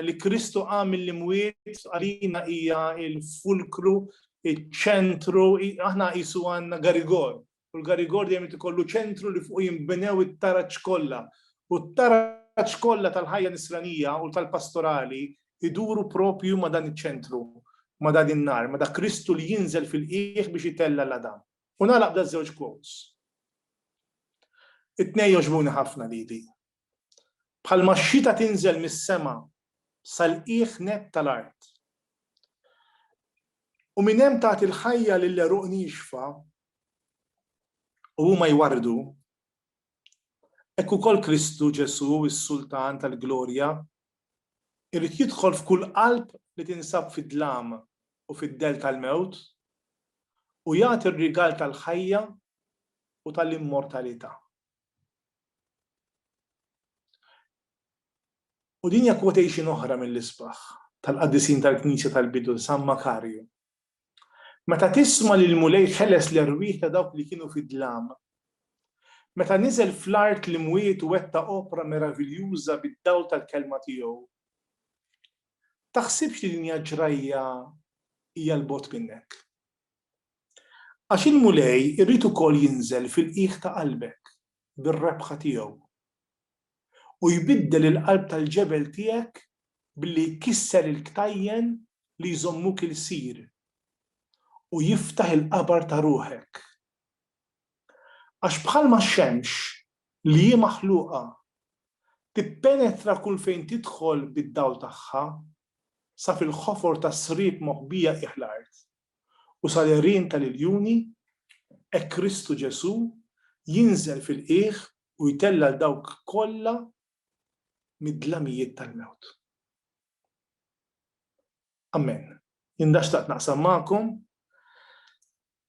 li Kristu qam mill-imwiet għalina hija l-fulkru, iċ-ċentru, aħna qisu għandna garigol u l-Garigor dejjem irid ikollu ċentru li fuqu jinbnew it-taraġ kollha. U t-taraġ kollha tal-ħajja nisranija u tal-pastorali jduru proprju ma' dan iċ-ċentru, ma' dan in-nar, ma' dak Kristu li jinżel fil-qiegħ biex itella' l-għadam. U nagħlaq b'daż-żewġ quotes. It-tnejn jogħġbuni ħafna lili. bħalma x-xita tinżel mis-sema sal-qiegħ nett tal-art, u minn hemm tagħti l-ħajja lill-għeruq niexfa u huma jwarrdu, hekk ukoll Kristu Ġesù, is-Sultan tal-glorja, irid jidħol f'kull qalb li tinsab fid-dlam u fid-dell tal-mewt u jagħti r-rigal tal-ħajja u tal-immortalità. U din hija quotation oħra mill-isbaħ tal-qaddisin tal-Knisja tal-bidu, San Makarju. Meta tisma' li l-Mulej ħeles l-erwieħ ta' dawk li kienu fid-dlam, meta niżel fl-art l-imwiet u wettaq opra meraviljuża bid-dawl tal-kelma tiegħu, taħsibx li din hija ġrajja hija 'l bogħod minnek. Għax il-Mulej irid ukoll jinżel fil-qiegħ ta' qalbek bir-rebħa tiegħu, u jbiddel il-qalb tal-ġebel tiegħek billi jkisser il-ktajjen li jżommuk ilsir, u jiftaħ il-qabar ta' ruħek. Għax bħalma x-xemx, li hi maħluqa, tippenetra kull fejn tidħol bid-dawl tagħha, sa fil-ħofor tas-sriep moħbija qiegħ l-art, u sal-għerien tal-iljuni, hekk Kristu Ġesù jinżel fil-qiegħ u jtella' 'l dawk kollha mid-dlamijiet tal-mewt. Amen. Jien dan xtaqt naqsam magħkom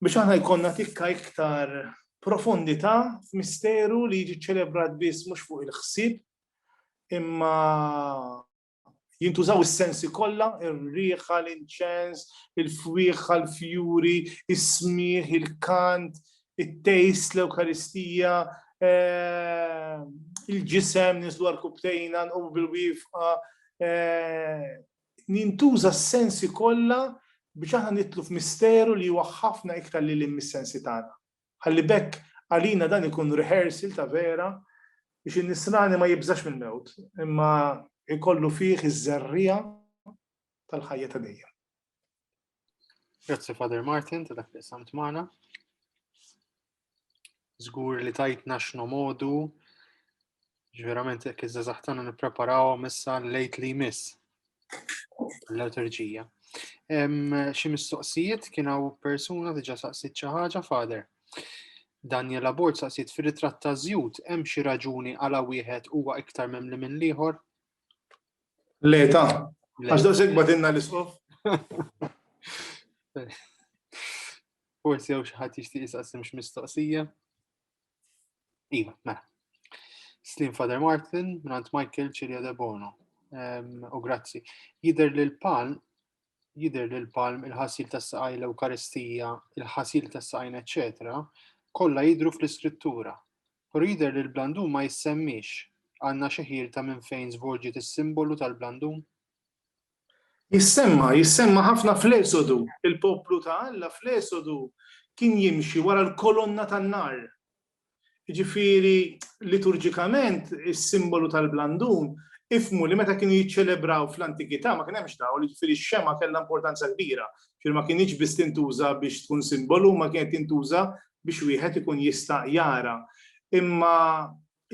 biex aħna jkollna tikka iktar profondità f'misteru li jiġi ċċelebrat biss mhux fuq il-ħsieb imma Jintużaw is-sensi kollha, ir-riħa, l-inċens, il-fwieħħa, l-fjuri, is-smigħ, il-kant, it-tejst, l-Ewkaristija, eh, il-ġisem, nislu għal-kubtejna, nqomu bil-wifqa. Eh, jintuża s-sensi kollha biex aħna nitlu f'misteru li huwa ħafna iktar li l-mis-sensi tagħna. Ħalli b'hekk għalina dan ikun rehearsal ta' vera biex in-Nisrani ma jibżax mill-mewt, imma jkollu fih iż-żerriegħa tal-ħajja ta' dejjem. Grazzi Father Martin ta' dak li samt magħna. Żgur li tajtna x'nomodu Ġverament, jekk iż-żazax tagħna nippreparawhom issa lejt li jmiss l-liturġija. Xi mistoqsijiet kien hawn persuna diġà saqsit xi ħaġa fader. Daniel Abort saqsit fir-ritratt ta' żjud hemm xi raġuni għala wieħed huwa iktar memli minn l-ieħor? Le ta' għax da segba dinna l-isqof. Forsi jew xi ħadd jixtieq jisaqsim x'mistoqsija. Iva, mela. Slim Father Martin, Grant Michael, Cilia De Bono. U grazzi. Jider li l-palm, jider li l-palm, il-ħasil tas saqaj l-Eukaristija, il-ħasil tas saqajn eccetera, kolla jidru fl-iskrittura. Pero jider li l-blandum ma jissemmix għanna xeħir ta' minn fejn zvolġi is-simbolu tal-blandum? Jissemma, jissemma ħafna fl-Esodu. Il-poplu ta' Alla fl-Esodu kien jimxi wara l-kolonna tan-nar. Jiġifieri, liturġikament, is-simbolu tal-blandun, ifhmu li meta kienu jiċċelebraw fl-antikità ma kien hemmx dawl, jiġifieri x-xemgħa kellha importanza kbira. Jiġifieri ma kinitx biss tintuża biex tkun simbolu imma kienet tintuża biex wieħed ikun jista' jara. Imma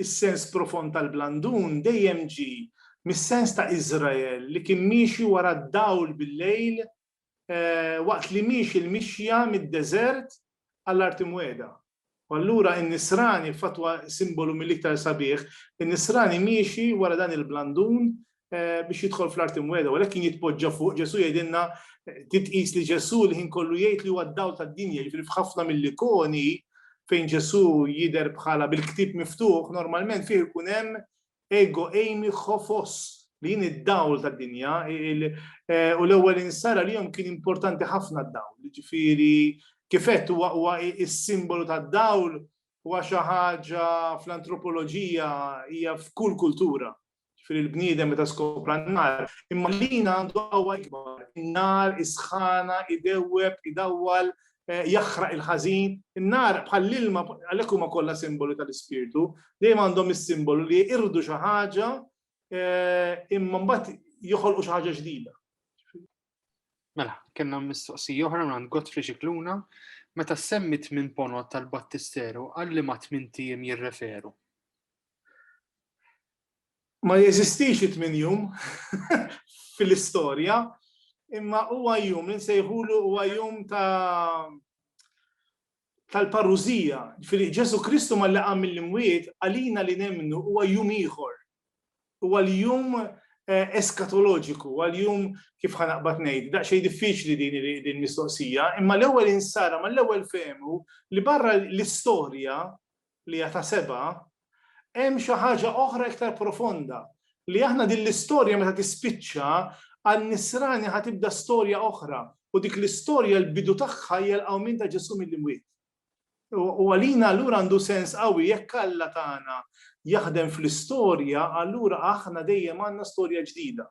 Is-sens profond tal-blandun dejjem ġie mis-sens ta' Iżrael li kien miexi wara d-dawl bil-lejl waqt li miexi l-mixja mid-deżert għall-Art Imwiegħda. U allura n-Nisrani, f'fatwa simbolu mill-iktar sabiħ, in-Nisrani miexi wara dan il-blandun biex jidħol fl-art imweda, u għalhekk kien jitpoġġa fuq Ġesu jgħidilna titqis li Ġesu l-ħin kollu jgħid li huwa d-dawl tad-dinja, jiġifieri f'ħafna mill-ikoni fejn Ġesu jidher bħala bil-ktieb miftuħ, normalment fih ikun hemm ego eimi ħofos li jien id-dawl tad-dinja, u l-ewwel insara li jom kien importanti ħafna d-dawl, jiġifieri kifet huwa is-simbolu tad-dawl huwa xi ħaġa fl-antropoloġija hija f'kull kultura ġifieri l-bniedem meta skopra n-nar, imma lina għandu qawwa ikbar. In-nar isħana, idewweb, idawwal, eh, jaħraq il-ħażin. In-nar bħall-ilma għalhekk huma kollha simbolu tal-ispirtu, dejjem għandhom is-simbolu li jirdu xi ħaġa eh, imma mbagħad joħolqu xi ħaġa ġdida. Mela, kellna mistoqsija oħra minn Godfrey Xikluna, meta semmit minn ponot tal-Battisteru għalli ma tmintijiem jirreferu. Ma jeżistix it-tmien jum fil-istorja, imma huwa jum li nsejħulu huwa jum ta' tal-parużija. Ġifieri Ġesù Kristu malli qam mill-imwiet għalina li nemmnu huwa jum ieħor. Huwa l-jum eskatoloġiku, huwa l-jum kif ħa naqbad ngħid, daqsxejn diffiċli din il-mistoqsija, imma l-ewwel insara, mal-ewwel fehmu li barra l-istorja li hija ta' sebgħa, hemm xi ħaġa oħra iktar profonda, li aħna din l-istorja meta tispiċċa, għan-nisrani ħa tibda storja oħra, u dik l-istorja l-bidu tagħha hija l-qawmien ta' Ġesù mill-imwiet. U għalina allura għandu sens qawwi jekk Alla tagħna jaħdem fl-istorja, allura aħna dejjem għandna storja ġdida.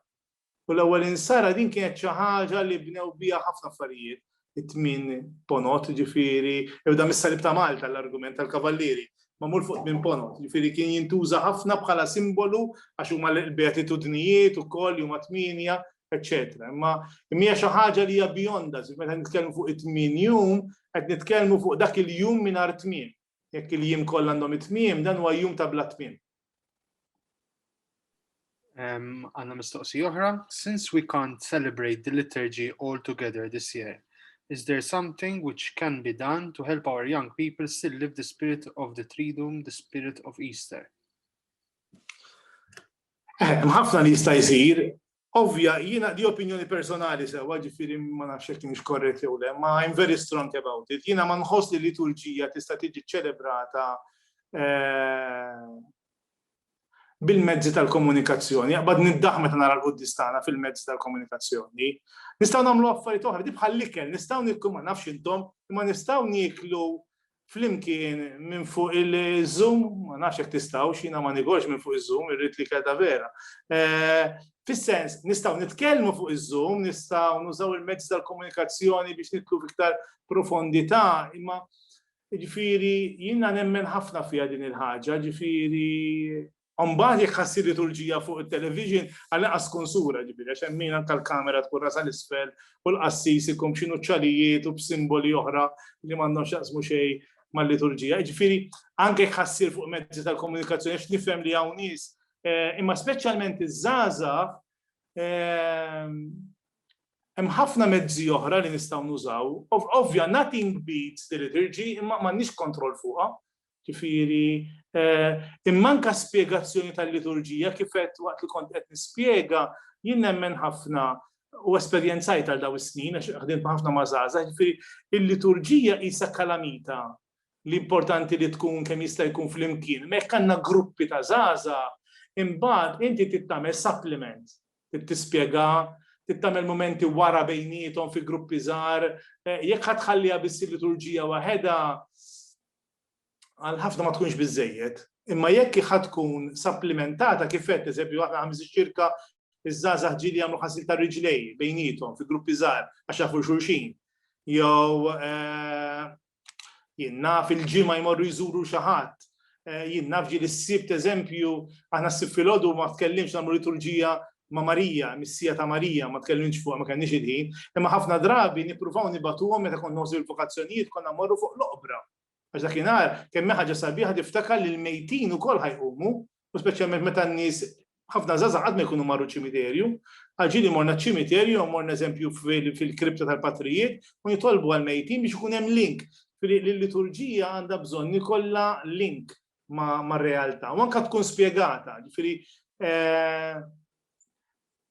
U l-ewwel insara din kienet xi ħaġa li bnew biha ħafna affarijiet, it-tmien ponot, jiġifieri, ibda mis-salib ta' Malta l-argument tal-kavallieri, magħmul fuq tmien ponot, jiġifieri kien jintuża ħafna bħala simbolu għax huma l-beatitudnijiet ukoll li huma tmienja, eċċetera. Imma hija xi ħaġa li hija beyond us, meta nitkellmu fuq it-tmien jum, qed nitkellmu fuq dak il-jum mingħajr tmiem. Jekk il-jiem kollha għandhom it-tmiem, dan huwa jum ta' bla tmiem. Għanna mistoqsi oħra. Since we can't celebrate the liturgy all together this year, is there something which can be done to help our young people still live the spirit of the Triduum, the spirit of Easter? Eh, mħafna li jista' jsir, Ovvja, jiena di opinjoni personali sewwa, ġifieri ma nafx jekk kienx korrett jew le, ma I'm very strong about it. Jiena ma nħoss li liturġija tista' tiġi ċċelebrata bil-mezzi tal-komunikazzjoni. Jaqbad niddaħ meta nara l-quddis tagħna fil-mezzi tal-komunikazzjoni. Nistgħu nagħmlu affarijiet oħra, di bħal-ikel, nistgħu nikku ma nafx intom, imma nistgħu nieklu flimkien minn fuq il-Zoom, ma nafx jekk tistgħux, jiena ma nigorx minn fuq iż-Zoom, irrid li kelta vera. Eh, fis-sens, nistgħu nitkellmu fuq iż-Zoom, nistgħu nużaw il-mezz tal-komunikazzjoni biex nitlu fiktar profondità, imma ġifieri jiena nemmen ħafna fiha din il-ħaġa, ġifieri U mbagħad jekk ħassi liturġija fuq it-television, għall-inqas tkun sura, ġifieri, għax hemm min anke l-kamera tkun rasha 'l isfel u l-qassis ikun b'xi nuċċalijiet u b'simboli oħra li m'għandhom x'jaqsmu xejn mal-liturġija. Jiġifieri, anke jekk ħassir fuq mezzi tal-komunikazzjoni, għax nifhem li hawn nies, imma speċjalment iż-żgħażagħ, hemm ħafna mezzi oħra li nistgħu nużaw. Ovvja, nothing beats the liturgy, imma m'għandniex kontroll fuqha. Ġifieri, imma anke spjegazzjoni tal-liturġija kif għedt waqt li kont qed nispjega, jien nemmen ħafna u esperjenzajt għal dawn is-snin għax ħdimt ħafna ma' żgħażagħ, ġifieri il-liturġija qisha kalamita li importanti li tkun kemm jista' jkun flimkien. Imma jekk għandna gruppi ta' żgħażagħ, imbagħad inti trid tagħmel supplement, trid tispjega, trid tagħmel mumenti wara bejniethom fi gruppi żgħar, jekk ħa tħalliha biss il-liturġija waħedha, għal ħafna ma tkunx biżejjed, imma jekk hi ħa tkun sapplimentata kif qed eżempju aħna ħames iċ-ċirka iż-żgħażagħ ġieli jagħmlu ħasil ta' riġlej bejniethom fi gruppi żgħar għax jafu xulxin. Jew eh, jien naf il-ġimgħa jmorru jżuru xi ħadd Eh, jien nafġi li s-sibt eżempju, aħna s-sibt fil-ħodu ma tkellimx namlu liturġija ma' Marija, missija ta' Marija, ma tkellimx fuq ma kellniex il-ħin, imma ħafna drabi nippruvaw nibatuhom meta kont noħsu l-vokazzjonijiet konna morru fuq l-oqbra. Għax dakinhar kemm ħaġa sabiħa tiftakar li l-mejtin ukoll ħajqumu, u speċjalment meta n-nies ħafna żgħażagħ qatt ma jkunu marru ċimiterju. Għal ġieli morna ċ-ċimiterju, morna eżempju fil-kripta tal-patrijiet u nitolbu għall-mejtin biex ikun hemm link. Li l-liturġija għandha bżonn ikollha link mar-realtà u anke tkun spjegata. Ġifieri eh,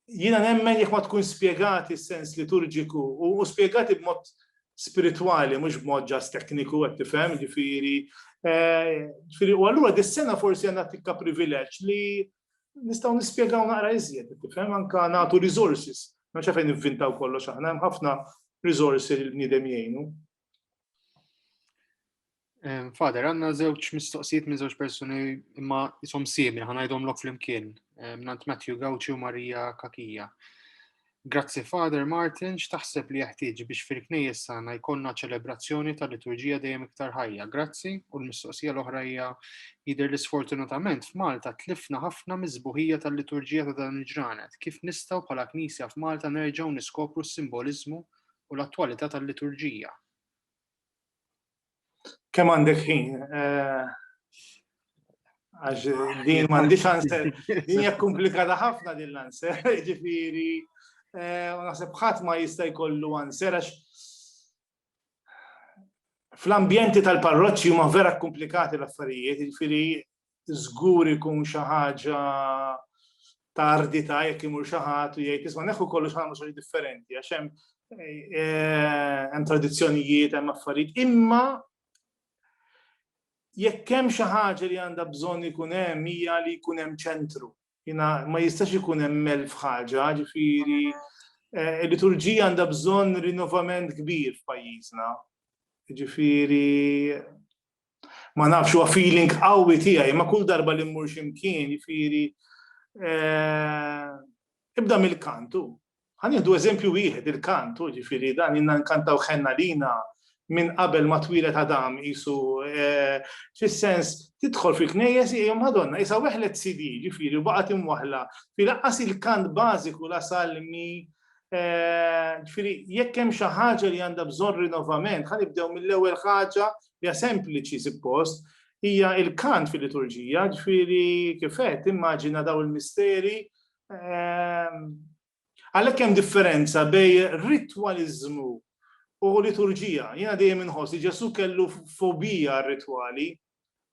jiena nemmen jekk ma tkun spjegati s-sens liturġiku u spjegati b'mod spiritwali, mhux b'mod ġas tekniku qed tifhem, ġifieri. Eh, ġifieri u allura dis-sena forsi għandna tikka privileġġ li nistgħu nispjegaw naqra iżjed, tifhem anke nagħtu resources. Ma xafejn nivvintaw kollox aħna, hemm ħafna resources li l-bniedem jgħinu. Fader, għanna zewċ mistoqsijiet minn zewċ personi imma jisom simil, ħanajdom lok fl-imkien, nant Matthew Gauci u Marija Kakija. Grazzi Fader Martin, x'taħseb li jeħtieġ biex fil-knejjes sana jkollna ċelebrazzjoni tal-liturġija dejjem iktar ħajja. Grazzi u l-mistoqsija l-oħra hija jidher li sfortunatament f'Malta tlifna ħafna miżbuħija tal-liturġija ta' dan il-ġranet. Kif nistgħu bħala Knisja f'Malta nerġgħu niskopru s-simboliżmu u l-attwalità tal-liturġija. Kemm għandek ħin? Eh, għax din m'għandix answer. Din hija komplikata ħafna din l-answer, ġifieri eh, u naħseb ħadd ma jista' jkollu answer għax fl-ambjenti tal-parroċċi huma vera komplikati l-affarijiet, ġifieri żgur ikun xi ħaġa ta' ardita jekk imur xi ħadd u jgħid isma' neħu kollox ħamu xi differenti għax hemm eh, hemm tradizzjonijiet, hemm affarijiet, imma jekk hemm xi ħaġa li għandha bżonn ikun hemm hija li jkun hemm ċentru. Jina ma jistax ikun hemm elf ħaġa, ġifieri eh, il-liturġija għandha bżonn rinnovament kbir f'pajjiżna. Ġifieri Ma nafx huwa feeling qawwi tiegħi, ma kull darba li mmur x'imkien, jifieri eh, ibda mill-kantu. Ħan jieħdu eżempju wieħed il-kantu, ġifieri dan inna nkantaw ħenna lina minn qabel ma twilet Adam isu eh, fis-sens tidħol fil-knejjes hija Madonna isa weħlet CD ġifieri baqgħet imwaħla fi laqqas il-kant bażiku la salmi eh, ġifieri jekk hemm xi ħaġa li għandha bżonn rinnovament ħanibdew mill-ewwel ħaġa Hija sempliċi suppost, hija il-kant fil-liturġija, ġifieri kif qed immaġina daw il-misteri. Ehm, għalhekk hemm differenza bejn ritwaliżmu u liturġija. Jiena dejjem inħoss li Ġesu kellu fobija rritwali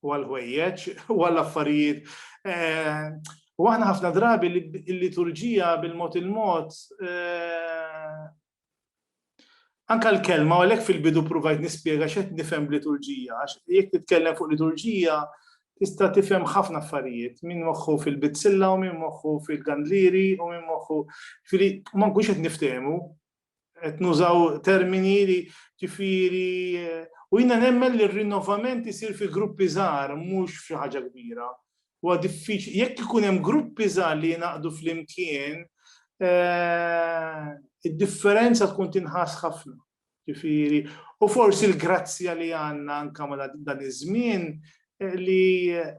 u għal-ħwejjeġ u għall-affarijiet. Ehm, u aħna ħafna drabi l-liturġija bil-mod il-mod ehm, Anke l-kelma, u għalhekk fil-bidu pruvajt nispjega x'qed nifhem b'liturġija, għax jekk titkellem fuq liturġija tista' tifhem ħafna affarijiet, min moħħu fil-bizzilla u min moħħu fil-gandlieri u min moħħu, ġifieri ma nkunx qed niftehmu, qed nużaw termini li ġifieri u jiena nemmen li r-rinnovament isir fi gruppi żgħar mhux f'xi ħaġa kbira. Huwa diffiċli, jekk ikun hemm gruppi żgħar li jingħaqdu flimkien, eh, id-differenza tkun tinħass ħafna. Ġifieri, u forsi l-grazzja li għandna anke ma dan iż-żmien eh, li eh,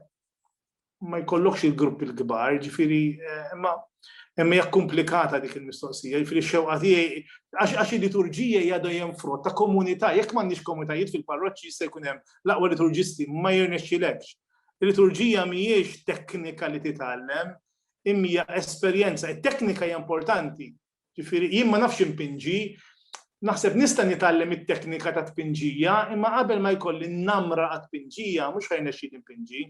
ma jkollokx il-grupp il-kbar, ġifieri, imma hemm hija komplikata dik il-mistoqsija, ġifieri xewqa tiegħi għax il-liturġija hija dejjem frott ta' komunità, jekk m'għandniex komunitajiet fil-parroċċi jista' jkun hemm l-aqwa liturġisti ma jirnexxilekx Il-liturġija mhijiex teknika li titgħallem, imma hija esperjenza. It-teknika hija importanti. Ġifieri jien ma nafx impinġi, naħseb nista' nitgħallem it-teknika ta' tpinġija, imma qabel ma jkolli n-namra għat-tpinġija mhux ħa jnexxini npinġi.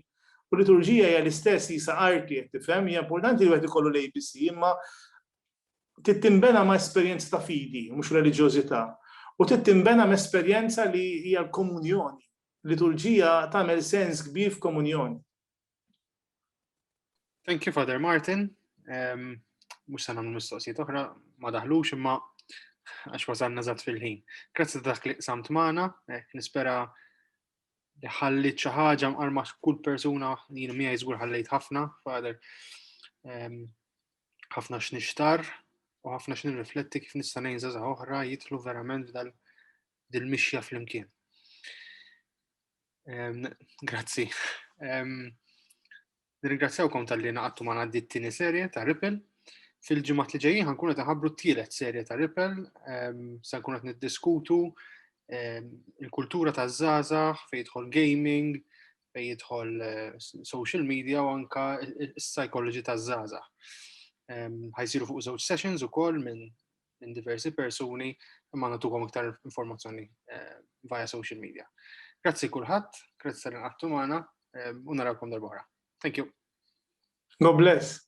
U liturġija hija l-istess jisa arti qed tifhem, hija importanti li wieħed ikollu l-ABC, imma trid tinbena ma' esperjenza ta' fidi, mhux reliġjożità. U trid tinbena ma' esperjenza li hija l-komunjoni, Liturġija tagħmel sens kbir f'komunjoni. Thank you, Father Martin. Um, mux sa namlu mistoqsijiet oħra, ma daħlux imma għax wasalna zat fil-ħin. Grazzi ta' dak li samt maħna, eh, nispera li ħallit xi ħaġa mqarma kull persuna jien mija jiżgur ħallejt ħafna, fader ehm, ħafna x'nixtar u ħafna x'nirrifletti kif nista' ngħin żgħażagħ oħra jitlu verament f'dal dil-mixja flimkien. Grazzi. Nirringrazzjawkom tal-li naqattu ma għaddi t-tini serje ta' Ripple. Fil-ġimgħat li ġejjin ħankun qed ħabru t-tielet serje ta' Ripple, se nkun qed niddiskutu il-kultura ta' żgħażagħ fejn jidħol gaming, fejn jidħol eh, social media u anka s-psychology ta' żgħażagħ. Ħajsiru fuq żewġ sessions ukoll minn minn diversi persuni imma natukom iktar informazzjoni eh, via social media. Grazzi kulħadd, grazzi tal inqattu magħna eh, u narawkom darbora. Thank you. God bless.